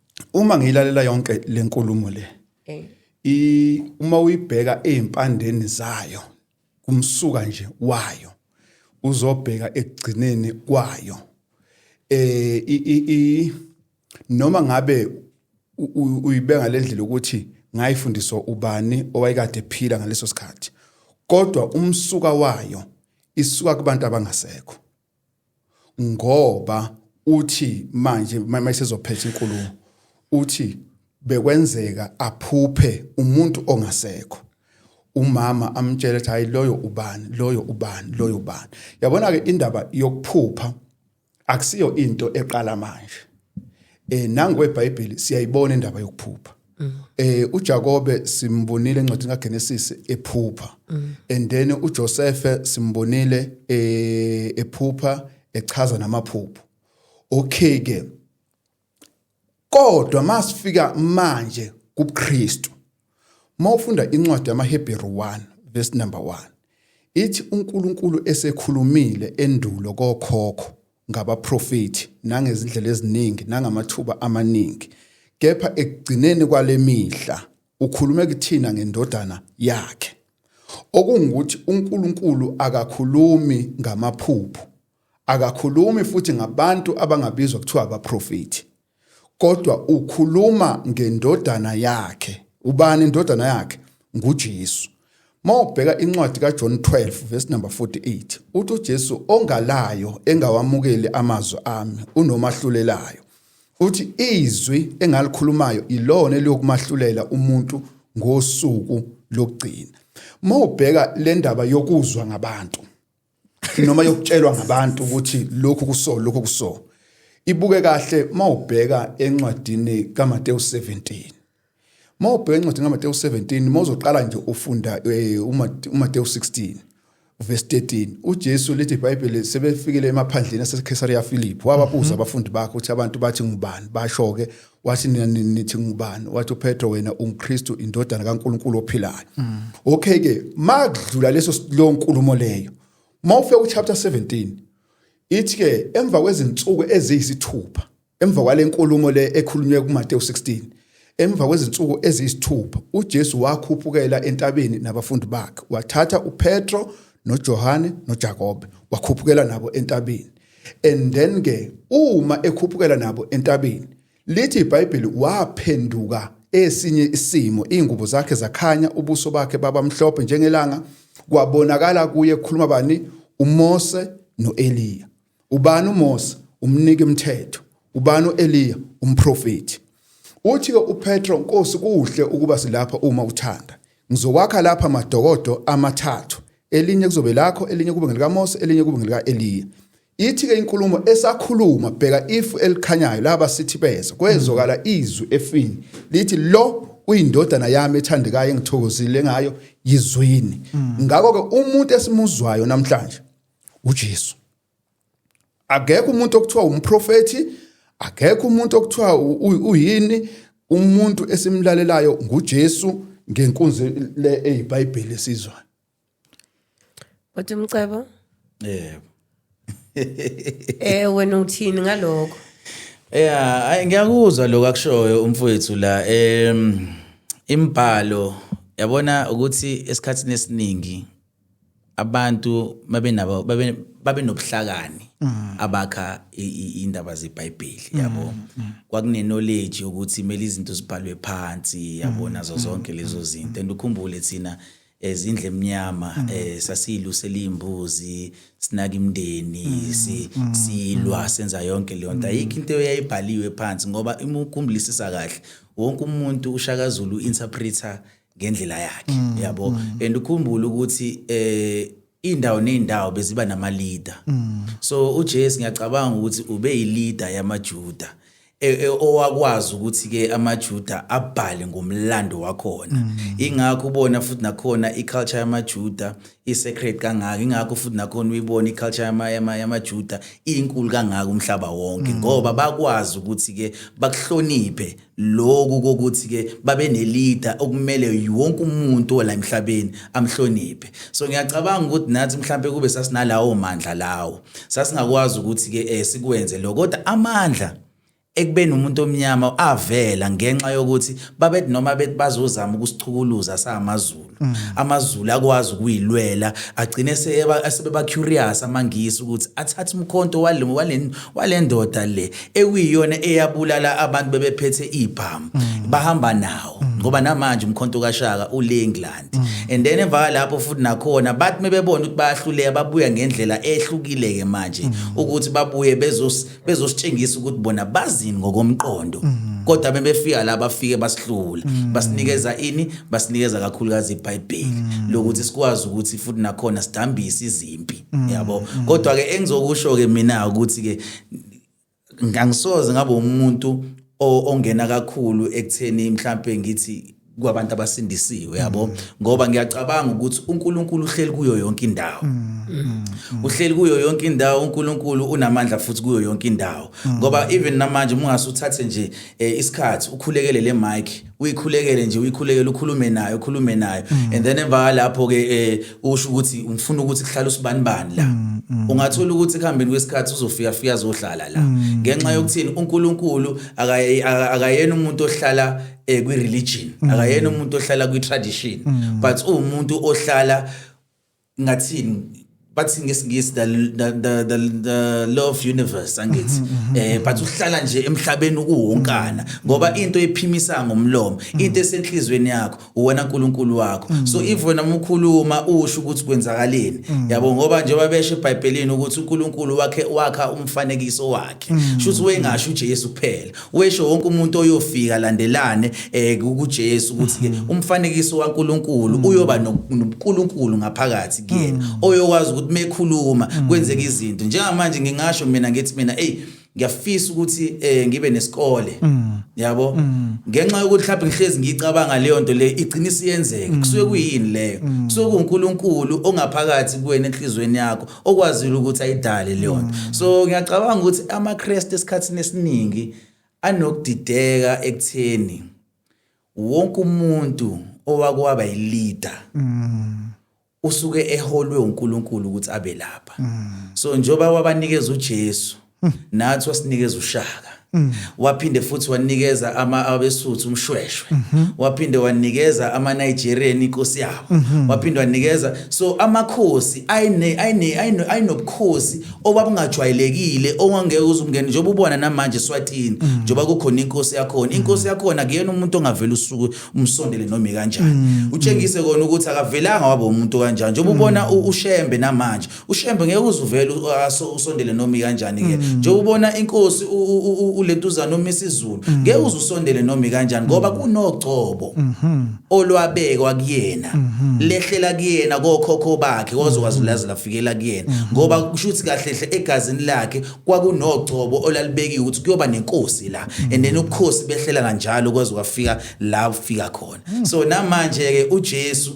uma ngiyilalela yonke lenkulumo le eh. i uma uyibheka ezimpandeni zayo kumsuka nje wayo uzobheka ekugcineni kwayo eh i noma ngabe uyibeka lendlela ukuthi ngayifundiswa ubani owayekade ephila ngaleso sikhathi kodwa umsuka wayo isuka kubantu abangasekho ngoba uthi manje uma isezophetha inkulumo uthi bekwenzeka aphuphe umuntu ongasekho umama amtshela ukuthi hayi loyo ubani loyo ubani loyo ubani yabona ke indaba yokuphupha akusiyo into eqala manje eh nangu eBhayibheli siyayibona indaba yokuphupha Mm. Eh uJakobe simbonile encwadini kaGenesis ephupha. Mm. And then uJosefe simbonile eh ephupha echaza namaphupho. Okay ke. Kodwa masifika manje kuKristu. Mawufunda incwadi yamaHebheru 1 verse number 1. Ithi uNkulunkulu esekhulumile endulo kokhokho ngabaprofethi nangezindlela eziningi nangamathuba amaningi kepha ekugcineni kwale mihla ukhulume kuthina ngendodana yakhe okungukuthi uNkulunkulu akakhulumi ngamaphupho akakhulumi futhi ngabantu abangabizwa kuthiwa abaprofethi kodwa ukhuluma ngendodana yakhe ubani indodana yakhe nguJesu mawubheka incwadi kaJohn 12 verse number 48 uthi uJesu ongalayo engawamukeli amazwi ami unomahlulelayo uthi izwi engalikhulumayo ilona eliyokumahlulela umuntu ngosuku lokugcina mawubheka le ndaba yokuzwa ngabantu noma yokutshelwa ngabantu ukuthi lokhu kuso lokhu kuso ibuke kahle mawubheka encwadini kaMateyu 17 mawubheka encwadini kaMateyu 17 mawuzoqala nje ufunda eh, uMateyu 16 verse 13 uJesu lithi iBhayibheli sebefikile emaphandleni aseCaesarea Philip wababuza mm-hmm. abafundi bakhe ukuthi abantu bathi ngubani basho ke wathi nina nithi ngubani wathi uPetro wena unguKristu indodana kaNkuluNkulu ophilayo mm. okay ke makudlula leso lo nkulumo leyo mawufika ku chapter 17 ithi ke emva kwezinsuku eziyisithupha emva kwale nkulumo le ekhulunywe kuMateyu 16 emva kwezinsuku eziyisithupha uJesu wakhuphukela entabeni nabafundi bakhe wathatha uPetro noJohane noJakobe wakhuphukela nabo entabeni and then ke uma ekhuphukela nabo entabeni lithi iBhayibheli waphenduka esinye isimo ingubo zakhe zakhanya ubuso bakhe baba mhlophe njengelanga kwabonakala kuye kukhuluma bani uMose noEliya ubani uMose umnike umthetho ubani uEliya umprofeti uthi uPetro Nkosi kuhle ukuba silapha uma uthanda Ngizowakha lapha madokodo amathathu, elinye kuzobe lakho, elinye kube ngelikaMose, elinye kube ngelika-Eliya. Ithi-ke inkulumo esakhuluma, bheka ifu elikhanyayo, laba sithi beza, kwezwakala mm. izwi efini, lithi lo uyindodana yami ethandekayo engithokozile ngayo yizwini mm. ngakho-ke umuntu esimuzwayo namhlanje ujesu akekho umuntu okuthiwa umprofethi akekho umuntu okuthiwa uyini umuntu esimlalelayo nguJesu ngenkunzi le eyiBhayibheli esizwayo Kodwa umcebo yebo eh wena uthini ngaloko Yeah, ngiyakuzwa lokho akushoyo umfowethu la. Em imbhalo yabona ukuthi esikhatsini esiningi abantu babenabo babe babenobuhlakani mm. abakha indaba zeBhayibheli mm, yabo mm. kwakune knowledge ukuthi mele izinto zibhalwe phansi yabona zo zonke lezo zinto and ukhumbule thina ezindle emnyama eh sasiyilusela imbuzi sinaka imndeni si silwa senza yonke leyo nto ayikho into eyayibhaliwe phansi ngoba uma ukhumbulisa kahle wonke umuntu ushakazulu interpreter ngendlela yakhe mm, yabo mm. and ukhumbule ukuthi eh indawo nendawo beziba nama leader mm. so uJesu ngiyacabanga ukuthi ube yi leader yamaJuda e, e, owakwazi ukuthi ke amaJuda abhale ngomlando wakhona mm. ingakho ubona futhi nakhona iculture yamaJuda isecret kangaka ingakho futhi nakhona uyibona iculture yama yamaJuda inkulu kangaka umhlaba wonke ngoba bakwazi ukuthi ke bakuhloniphe Lokhu kokuthi-ke babenelida okumele wonke umuntu ola emhlabeni amhloniphe. So ngiyacabanga ukuthi nathi mhlampe kube sasinalawo mandla lawo. Sasingakwazi ukuthi-ke eh, sikwenze lokho. Kodwa amandla ekubeni umuntu omnyama avela ngenxa yokuthi babethi noma bethi bazozama ukusichukuluza samaZulu. Mm. amazulu akwazi ukuyilwela agcine sebeba curious amangisi ukuthi athathe umkhonto wale wale walendoda le ekuyiyona eyabulala abantu bebephethe ibhamu mm. bahamba nawo mm. ngoba namanje umkhonto kaShaka ule England and then emva lapho futhi nakhona bathi mebebona ukuthi bayahluleka babuya ngendlela ehlukile ke manje ukuthi babuye bezos bezositshengisa ukuthi bona bazini ngokomqondo mhm. kodwa bebefika la bafike basihlula mhm. basinikeza ini basinikeza kakhulukazi iBhayibheli mhm. lokuthi sikwazi ukuthi futhi nakhona sidambise izimpi yabo kodwa ke engizokusho ke mina ukuthi ke ngangisoze ngabe umuntu ongena kakhulu ekutheni mhlambe ngithi kwabantu abasindisiwe yabo ngoba ngiyacabanga ukuthi uNkulunkulu uhleli kuyo yonke indawo uhleli kuyo yonke indawo uNkulunkulu unamandla futhi kuyo yonke indawo ngoba even namanje mungase uthathe nje eh, isikhathi ukhulekele le mic uyikhulekele nje uyikhulekele ukhulume nayo ukhulume nayo and then emva lapho ke eh, usho ukuthi ngifuna ukuthi kuhlale usibanibani la ungathola ukuthi kuhambeni kwesikhathi uzofika fika azohlala la ngenxa yokuthini uNkulunkulu akaye- aka- akayena umuntu ohlala eh kwi religion mm. akayena umuntu ohlala kwi tradition mm. but umuntu ohlala ngathini bathi ngesingisi the, the, the, the, the law of universe angithi mm-hmm, mm-hmm. eh but uhlala nje emhlabeni ukuwonkana mm-hmm. ngoba into ephimisa ngomlomo into esenhlizweni yakho uwena uNkulunkulu wakho so if wena umkhuluma usho ukuthi kwenzakaleni yabo ngoba njengoba beshe eBhayibhelini ukuthi uNkulunkulu wakhe wakha umfanekiso wakhe shuthi wengasho uJesu kuphela Wesho wonke umuntu oyofika landelane eh kuJesu ukuthi ke mhm. umfanekiso waNkuluNkulu mhm. uyoba noNkuluNkulu ngaphakathi kuyena mhm. oyokwazi ukuthi mekhuluma kwenzeka izinto njengamanje ngingasho mina ngithi mina hey ngiyafisa ukuthi eh ngibe nesikole mm. yabo mm. ngenxa yokuthi mhlawumbe ngihlezi ngicabanga leyo nto le igcina isiyenzeka mm. kusuke kuyini leyo kusuke kuNkulunkulu ongaphakathi kuwena enhlizweni yakho okwazile ukuthi ayidale leyona mm. so ngiyacabanga ukuthi amaKristu esikhathini esiningi anokudideka ekutheni wonke umuntu owakwaba yileader mm. usuke eholwe uNkulunkulu ukuthi abe lapha mm. so njoba wabanikeza uJesu nathi wasinikeza ushaka mm. waphinde futhi wanikeza ama abesuthu umshweshwe mm-hmm. waphinde wanikeza ama Nigerian inkosi yabo mm-hmm. waphinde wanikeza so amakhosi ayine ayine ayinobukhosi obabungajwayelekile ongangeke uzumngene njengoba ubona namanje Swatini mm. njengoba kukhona inkosi yakhona mm. inkosi yakhona kuyena umuntu ongavela usuku umsondele noma kanjani utshengise kona ukuthi akavelanga waba umuntu kanjani njengoba ubona uShembe namanje ushembe ngeke uzuvele usondele nomi kanjani ke mm. nje ubona inkosi ulentuzana umisa izulu mm. ngeke uzusondele nomi kanjani ngoba mm. kunogcobo mm-hmm. olwabekwa kuyena mm-hmm. lehlela kuyena kokhokho bakhe kozokwazi mm-hmm. lazi lafikela kuyena ngoba kusho ukuthi kahle hle egazini lakhe kwakunogcobo olalibekiwe ukuthi kuyoba nenkosi la and then ubukhosi behlela kanjalo kwaze kwafika la ufika khona so namanje ke uJesu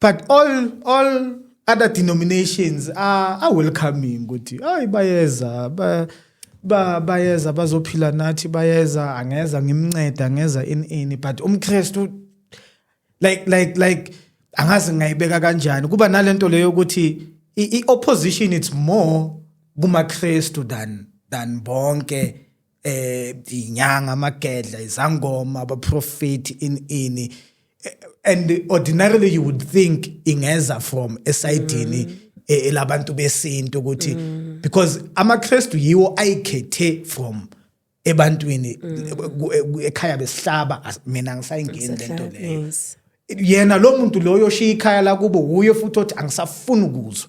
but all all other denominations are, are welcoming ukuthi hayi bayeza ba, ba bayeza bazophila nathi bayeza angeza ngimnceda angeza in ini but umkristu like like like angazi ngayibeka kanjani kuba nalento leyo ukuthi i opposition it's more kumakristu than than bonke eh inyanga amagedla izangoma abaprofeti in ini eh, and ordinarily you would think ingeza from esayidini mm. Eh, elabantu besintu ukuthi mm. because amaKristu yiwo ayikhethe from ebantwini mm. ekhaya besihlaba mina ngisayingeni lento leyo yena lo muntu loyo oshiya ikhaya lakubo wuye futhi othi angisafuni ukuzwa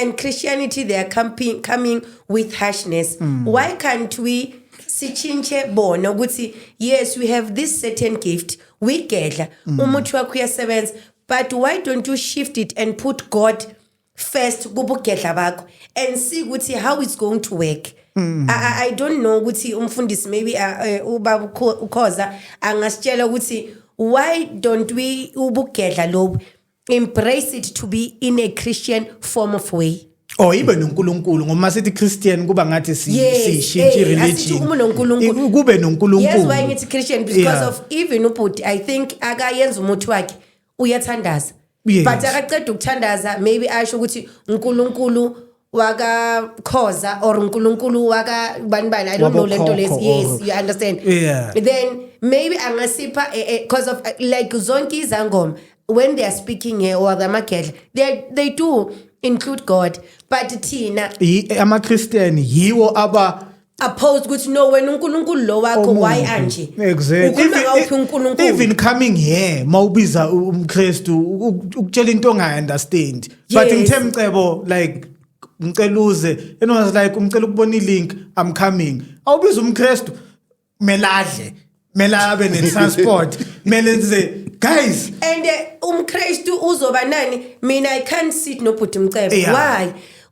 and christianity they are coming, coming with harshness mm. why can't we sitshintshe bona ukuthi yes we have this certain gift we gedla mm. umuthi wakho uyasebenza but why don't you shift it and put god first kubugedla bakho and see ukuthi how it's going to work Mm. I, I don't know ukuthi umfundisi maybe uh, uh, ubaba ukhoza angasitshela ukuthi why don't we ubugedla lobu embrace it to be in a Christian form of way. Oh ibe noNkulunkulu ngoba sithi Christian kuba ngathi sishintshe eh, religion. Uma noNkulunkulu kube noNkulunkulu. Yes why ngithi Christian because yeah. of even ubhuti I think akayenza umuthi wakhe uyathandaza. Yes. But akaqeda ukuthandaza maybe asho ukuthi uNkulunkulu waka khoza or uNkulunkulu waka bani bani i don't know lento lesi yes you understand yeah. then maybe angasipha eh, eh, because of eh, like zonke izangoma when they are speaking here or the magedla they they do include god but thina ama christian yiwo aba oppose ukuthi no wena uNkulunkulu lo wakho why anje exactly ukhuluma ngawuphi uNkulunkulu even coming here mawubiza umKristu ukutshela into ongayi understand but ngithe mcebo like ngicela uze and was like umcela ukubona ilink i'm coming awubiza umKristu meladle mela abe ne transport mele nze guys and eh, umKristu uzoba nani mina i can't sit nobhuti mcebo why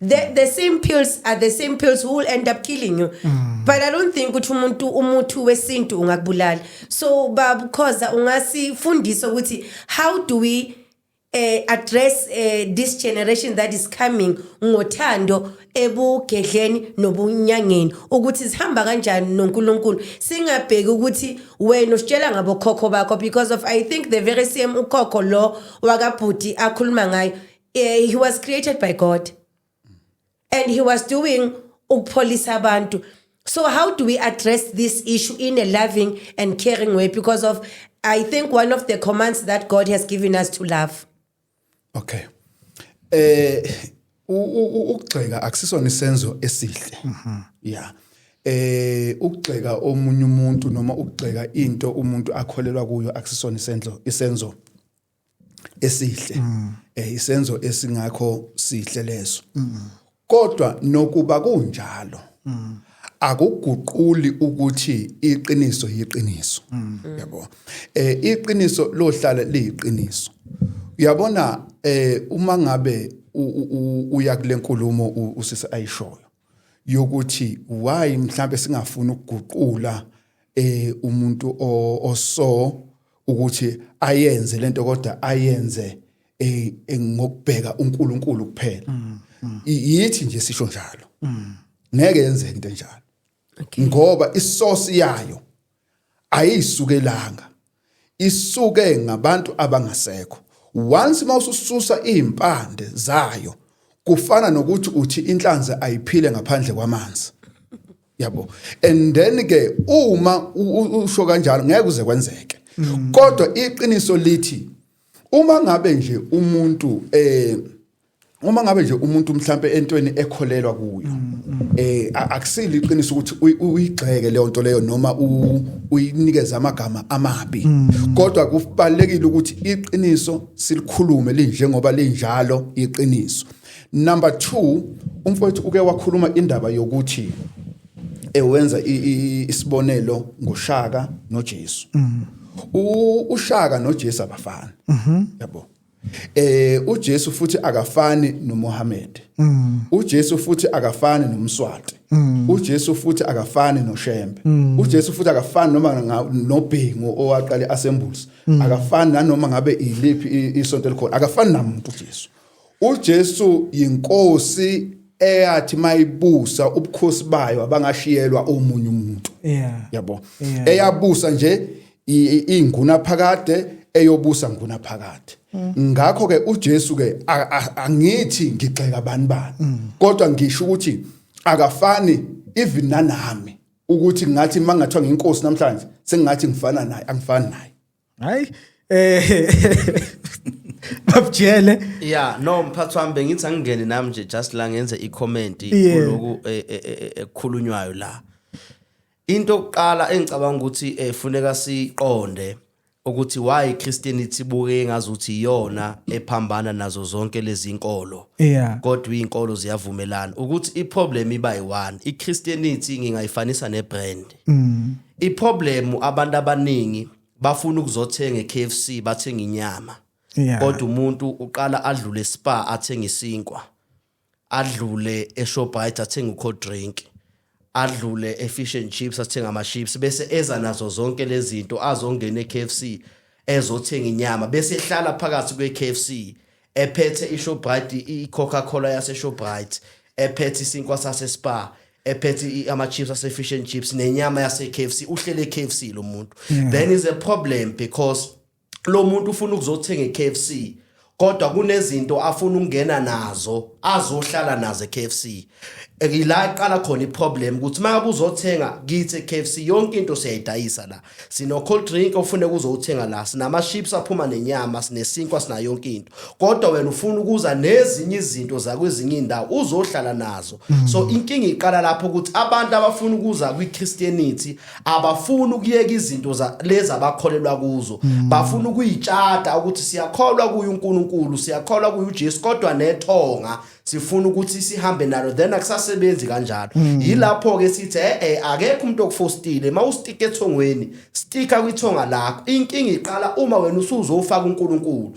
the, the same pills are the same pills who will end up killing you mm. but i don't think ukuthi umuntu umuthi wesintu ungakubulala so babukhoza ungasifundisa ukuthi how do we uh, address uh, this generation that is coming ngothando ebugedleni nobunyangeni ukuthi sihamba kanjani noNkulunkulu singabheki ukuthi wena usitshela ngabokhokho bakho because of i think the very same ukhokho lo wakabhuti akhuluma ngayo Eh, he was created by God and he was doing ukupholisa abantu. So how do we address this issue in a loving and caring way because of I think one of the commands that God has given us to love. Okay. Eh u- u- u- ukugxeka akusisona isenzo esihle. Yeah. Eh ukugxeka omunye umuntu noma ukugxeka into umuntu akholelwa kuyo akusisona isenzo isenzo esihle mm. eh isenzo esingakho sihle leso mm. kodwa nokuba kunjalo mm. akuguquli ukuthi iqiniso yiqiniso mm. yabo eh iqiniso lohlala liyiqiniso uyabona eh uma ngabe uya kulenkulumo usisi ayishoyo yokuthi why mhlambe singafuni ukuguqula eh umuntu oso ukuthi ayenze lento kodwa ayenze eh, eh ngokubheka uNkulunkulu kuphela mm, mm. yithi nje sisho njalo mm. ngeke yenzeke into enjalo ngoba isource yayo ayisukelanga isuke ngabantu abangasekho once mawusususa izimpande zayo kufana nokuthi uthi inhlanzi ayiphile ngaphandle kwamanzi yabo and then ke uma usho kanjalo ngeke uze kwenzeke mm. kodwa iqiniso lithi uma ngabe nje umuntu eh uma ngabe nje umuntu mhlambe entweni ekholelwa kuyo eh akusile iqiniso ukuthi uyigxeke leyo nto leyo noma uyinikeza amagama amabi mm. kodwa kubalekile ukuthi iqiniso silikhulume linjengoba linjalo iqiniso number 2 umfowethu uke wakhuluma indaba yokuthi ewenza isibonelo ngoshaka noJesu mm. ushaka noJesu abafana mhm. yabo mm -hmm. Eh uJesu futhi akafani noMohammed. Mm. UJesu futhi akafani noMswati. Mm. UJesu futhi akafani noShembe. Mm. UJesu futhi akafani noma nobhengu owaqale asembuzi. Mm. Akafani nanoma ngabe iliphi isonto elikhona. Akafani namuntu uJesu. UJesu yinkosi eyathi mayibusa ubukhosi bayo abangashiyelwa omunye umuntu. Yeah. Yabo. Yeah. Eyabusa nje ingunaphakade eyobusa ngunaphakade ngakho ke uJesu ke angithi ngigxeka bani bani mm. kodwa ngisho ukuthi akafani even nanami ukuthi ngathi mangathiwa nginkosi namhlanje sengathi ngifana naye angifani naye hayi eh babujele yeah no mphathi wami bengithi angingene nami nje just la ngenze i comment kuloku e, e, e, ekukhulunywayo la Into yokuqala engicabanga ukuthi efuneka eh, siqonde ukuthi why Christianity buke engazuthi iyona ephambana nazo zonke lezi inkolo yeah kodwa izinkolo ziyavumelana ukuthi iproblem iba yi1 iChristianity ngingayifanisa nebrand mm iproblem abantu abaningi bafuna ukuzothenga eKFC bathenga inyama yeah kodwa umuntu uqala adlule spa athenga isinkwa adlule eShoprite athenge ucold drink adlule efish and chips athenga ama chips bese eza nazo zonke lezi zinto azongena eKFC ezothenga inyama bese ehlala phakathi kweKFC ephethe iShoprite iCoca-Cola yaseShoprite ephethe isinkwa saseSpar ephethe ama chips ase fish and chips nenyama yase KFC uhlele KFC lo muntu then is a problem because lo muntu ufuna ukuzothenga eKFC kodwa kunezinto afuna ukungena nazo azohlala nazo eKFC ila iqala khona iproblem ukuthi uma kuzothenga kithi eKFC yonke into siyayidayisa la sino cold drink ofune kuzothenga la sinama chips aphuma nenyama sinesinkwa sina yonke into kodwa wena ufuna ukuza nezinye izinto zakwezinye indawo uzohlala nazo so inkinga iqala lapho ukuthi abantu abafuna ukuza kwiChristianity abafuni ukuyeka izinto lezi abakholelwa kuzo mm. bafuna ukuyitshata ukuthi siyakholwa kuye uNkulunkulu siyakholwa kuye uJesu kodwa nethonga sifuna ukuthi sihambe nalo then akusasebenzi kanjalo mm. yilapho ke sithi eh, eh akekho umuntu okufostile mawustika ethongweni stika kwithonga lakho inkinga iqala uma wena usuzofaka uNkulunkulu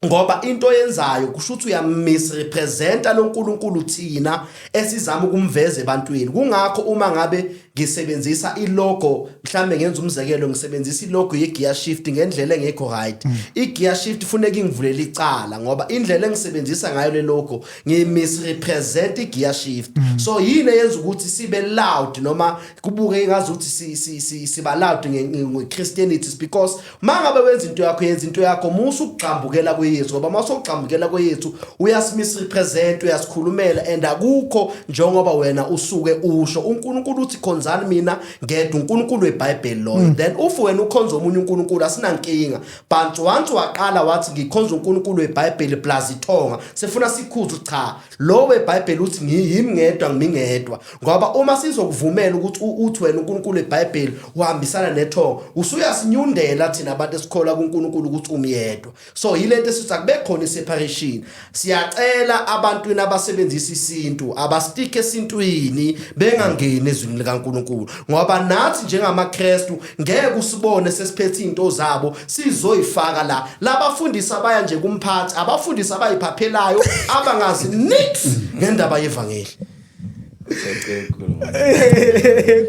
ngoba into oyenzayo kusho ukuthi uyamisrepresenta loNkulunkulu thina esizama ukumveza ebantwini kungakho uma ngabe ngisebenzisa ilogo mhlambe ngenza umzekelo ngisebenzisa ilogo yegear shift ngendlela engekho right mm. igear shift funeka ingivulele icala ngoba indlela engisebenzisa ngayo le logo ngimisrepresent igear shift mm. so yini eyenza ukuthi sibe loud noma kubuke ngazi ukuthi siba loud ngeChristianity because mangabe wenza into yakho yenza into yakho musa ukugxambukela kweyesu ngoba uma usogxambukela kweyesu uyasimirepresent uyasikhulumela and akukho njengoba wena usuke usho unkulunkulu uthi khonzani mina ngedwa unkulunkulu webhayibheli loyo mm. then ufu wena ukhonza omunye unkulunkulu asinankinga but once waqala wathi ngikhonza unkulunkulu webhayibheli plus ithonga sefuna sikhuzu cha Lo weBhayibheli uthi ngiyimi ngedwa ngimi ngedwa ngoba uma sizokuvumela ukuthi uthi wena uNkulunkulu eBhayibheli uhambisana nethongo usuyasinyundela thina abantu esikholwa kuNkulunkulu ukuthi umyedwa so yilento esithi akube khona iseparation siyacela abantwini abasebenzisa isintu abastike esintwini bengangeni ezwini likaNkulunkulu ngoba nathi njengamaKristu ngeke usibone sesiphethe izinto zabo sizoyifaka la labafundisi abaya nje kumphathi abafundisi abayiphaphelayo abangazi nix ngendaba yevangeli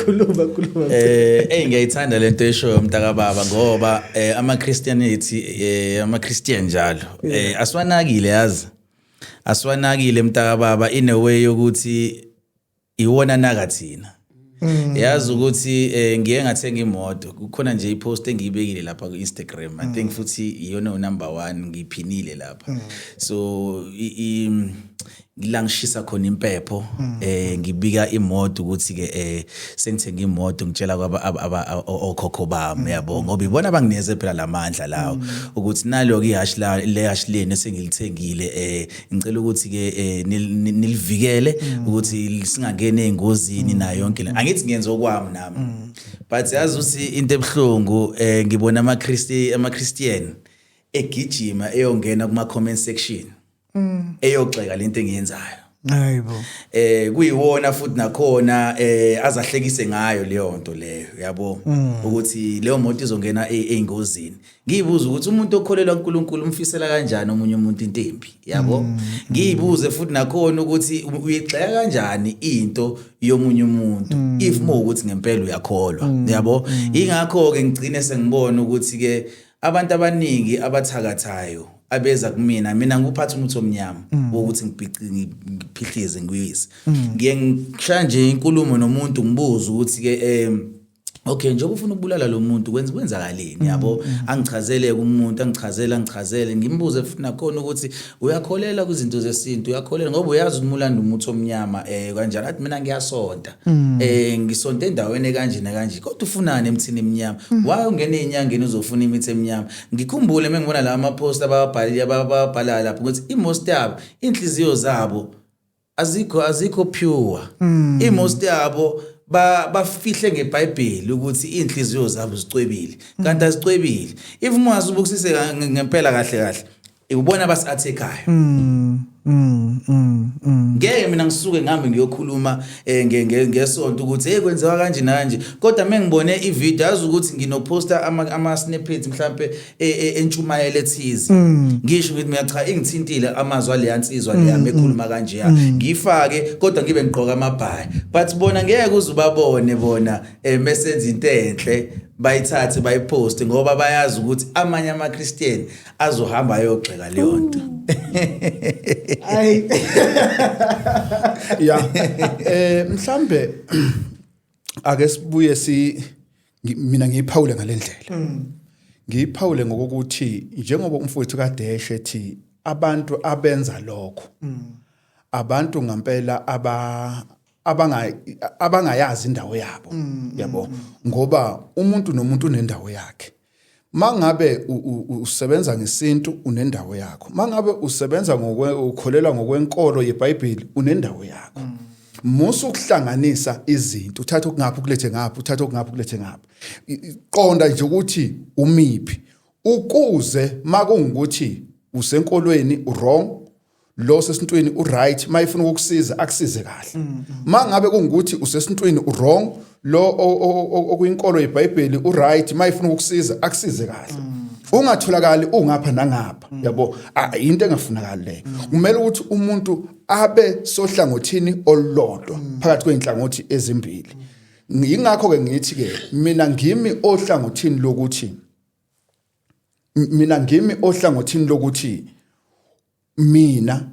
khuluma khuluma eh hey ngiyayithanda lento eshoyo umntaka baba ngoba eh, ama Christianity eh, ama Christian njalo eh, asiwanakile yazi asiwanakile mntaka baba in a way yokuthi iwona naka thina mm. yazi ukuthi eh, ngiye ngathenga imoto kukhona nje ipost engiyibekile lapha ku-instagram i think mm. futhi iyona unumber one ngiyiphinile lapha mm. so la ngishisa khona impepho mm. eh ngibika imoto ukuthi ke eh sengithenga imoto ngitshela kwaba okhokho bami mm. yabo ngoba ibona bangineze phela lamandla lawo mm. ukuthi nalo ke ihash la le hash leni sengilithengile eh ngicela ukuthi ke eh, nilivikele mm. ukuthi singangeni ezingozini nayo yonke le mm. angithi ngiyenza okwami nami mm. but yazi uthi into ebuhlungu eh, ngibona ama Christi ama Christian egijima eyongena kuma comment section eyogxeka lento engiyenzayo Hayibo. Eh kuyiwona futhi nakhona eh azahlekise ngayo leyo nto leyo yabo ukuthi leyo moto izongena e-, eingozini. ngiyibuza ukuthi umuntu okholelwa uNkulunkulu umfisela kanjani omunye umuntu into embi yabo mm. ngiyibuze futhi nakhona ukuthi uyigxeka kanjani into yomunye umuntu mm. if mo ukuthi ngempela uyakholwa mm. yabo ingakho ke ngigcine sengibona ukuthi ke abantu abaningi abathakathayo abeza kumina mina ngikuphatha umuthi omnyama wokuthi ngiphihlize ngiyise ngiye ngishaya nje inkulumo nomuntu ngibuza ukuthi ke em okay njengoba ufuna ukubulala lo muntu kwenza kwenzakaleni mm, yabo mm, mm. angichazele umuntu angichazele angichazele ngimbuze futhi nakhona ukuthi uyakholela kwizinto zesintu uyakholela ngoba uyazi ukuthi mulanda umuthi omnyama eh kanjani athi mina ngiyasonta eh ngisonta endaweni kanje nakanje kodwa ufunani emthini emnyama why ungena enyangeni uzofuna imithi emnyama ngikhumbule mengibona la ama post ababhalile ababhalala lapho ukuthi i most yabo inhliziyo zabo azikho azikho pure mm. imost yabo ba bafihle ngeBhayibheli ukuthi inhliziyo zabo zicwebile mm. kanti azicwebile if mwazi ubukisise ngempela kahle kahle ikubona abasiathekayo mm. Mm, mm, mm. ngeke mina ngisuke ngihambe ngiyokhuluma eh, ngesonto ukuthi hey kwenziwa kanje nanje kodwa mengibone ivideo yazi ukuthi nginoposta ama snippets mhlambe e, e, entshumayelo ethize mm. ngisho ngithi mina cha ingithintile amazwi aleya nsizwa leya mm, mekhuluma mm. kanje ya ngifake kodwa ngibe ngigqoka amabhayi but bona ngeke uze ubabone bona eh, mesenza into enhle bayithathe bayiposte ngoba bayazi ukuthi amanye amaKristian azohamba ayogxeka leyo nto ay ya eh mhlambe ake sibuye si mina ngiyiphawule ngalendlela mm. ngiyiphawule ngokuthi njengoba umfowethu kadeshe ethi abantu abenza lokho mm. abantu ngempela aba abanga abangayazi indawo yabo mm, yabo ngoba umuntu nomuntu unendawo yakhe mangabe usebenza ngesintu unendawo yakho mangabe usebenza ngokwe ukholelwa ngokwenkolo yeBhayibheli unendawo yakho mm. musa ukuhlanganisa izinto uthatha okungaphi ukulethe ngaphi uthatha okungaphi ukulethe ngaphi qonda nje ukuthi umiphi ukuze makungukuthi usenkolweni wrong lo sesintwini uright mayifuna ukukusiza akusize kahle mm, mm. mangabe kungukuthi usesintwini uwrong lo okuyinkolo yeBhayibheli uright mayifuna ukukusiza akusize kahle mm. ungatholakali ungapha nangapha yabo into engafunakali leyo kumele ukuthi umuntu abe sohlangothini olulodwa phakathi kweinhlangothi ezimbili yingakho ke ngithi ke mina ngimi ohlangothini lokuthi mina ngimi ohlangothini lokuthi mina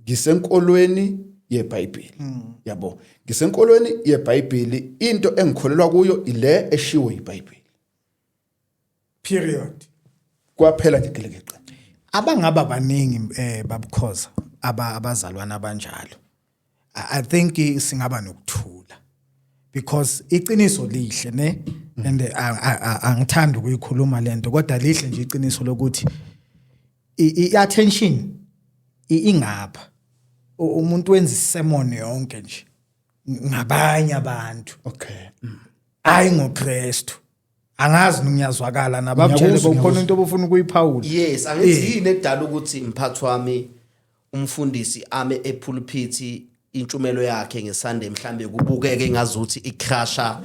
ngisenkolweni yeBhayibheli hmm. yabo ngisenkolweni yeBhayibheli into engikholelwa kuyo ile eshiwo iBhayibheli period kwaphela nje gelekeqe abangaba baningi eh babukhoza aba abazalwana abanjalo i think singaba nokuthula because iqiniso lihle ne and angithanda ukuyikhuluma lento kodwa lihle nje iqiniso lokuthi i-attention ingapha umuntu wenza isemon yonke nje ngabanye abantu okay hayi ngoKristu angazi ningiyazwakala nabamtshele bokukhona into obufuna ukuyiphawula yes angithi yini edala ukuthi mphathi wami umfundisi ame ephulphithi intshumelo yakhe ngeSunday mhlambe kubukeke ngazuthi icrasha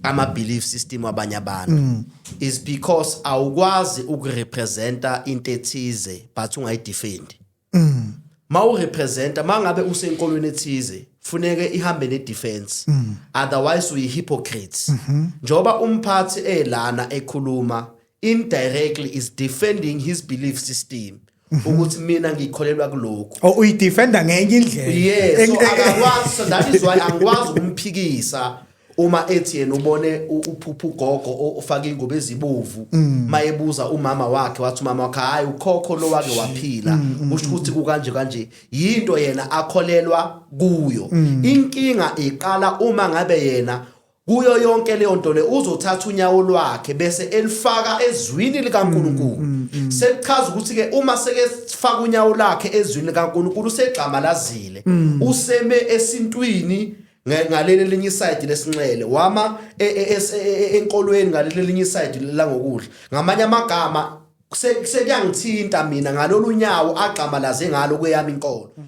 ama belief system abanye abantu mm. is because awukwazi ukurepresenta into ethize but ungayidefend mm. mawurepresenta mangabe usenkolweni ethize funeke ihambe ne defense mm. otherwise uyi hypocrites mm-hmm. njoba umphathi elana ekhuluma indirectly is defending his belief system ukuthi mina ngikholelwa kuloko oh uyidefenda ngenye indlela yes so akakwazi so that is why angikwazi ukumphikisa uma ethi yena ubone uphupha ugogo ofaka ingubo ezibovu mm. mayebuza umama wakhe wathi umama wakhe hayi ukhokho lo wake waphila mm, mm, usho ukuthi kukanje kanje yinto yena akholelwa kuyo inkinga iqala uma ngabe yena Kuyo yonke leyo nto le uzothatha unyawo lwakhe bese elifaka ezwini likaNkulunkulu. Mm, mm, mm. Sekuchaza ukuthi ke uma seke sifaka unyawo lakhe ezwini likaNkulunkulu usegxamalazile. Useme esintwini ngaleli linye side lesinxele wama e, e, e, enkolweni ngaleli linye side la ngokudla. Ngamanye amagama sekuyangithinta mina ngalolu nyawo agxamalaze ngalo kweyami inkolo.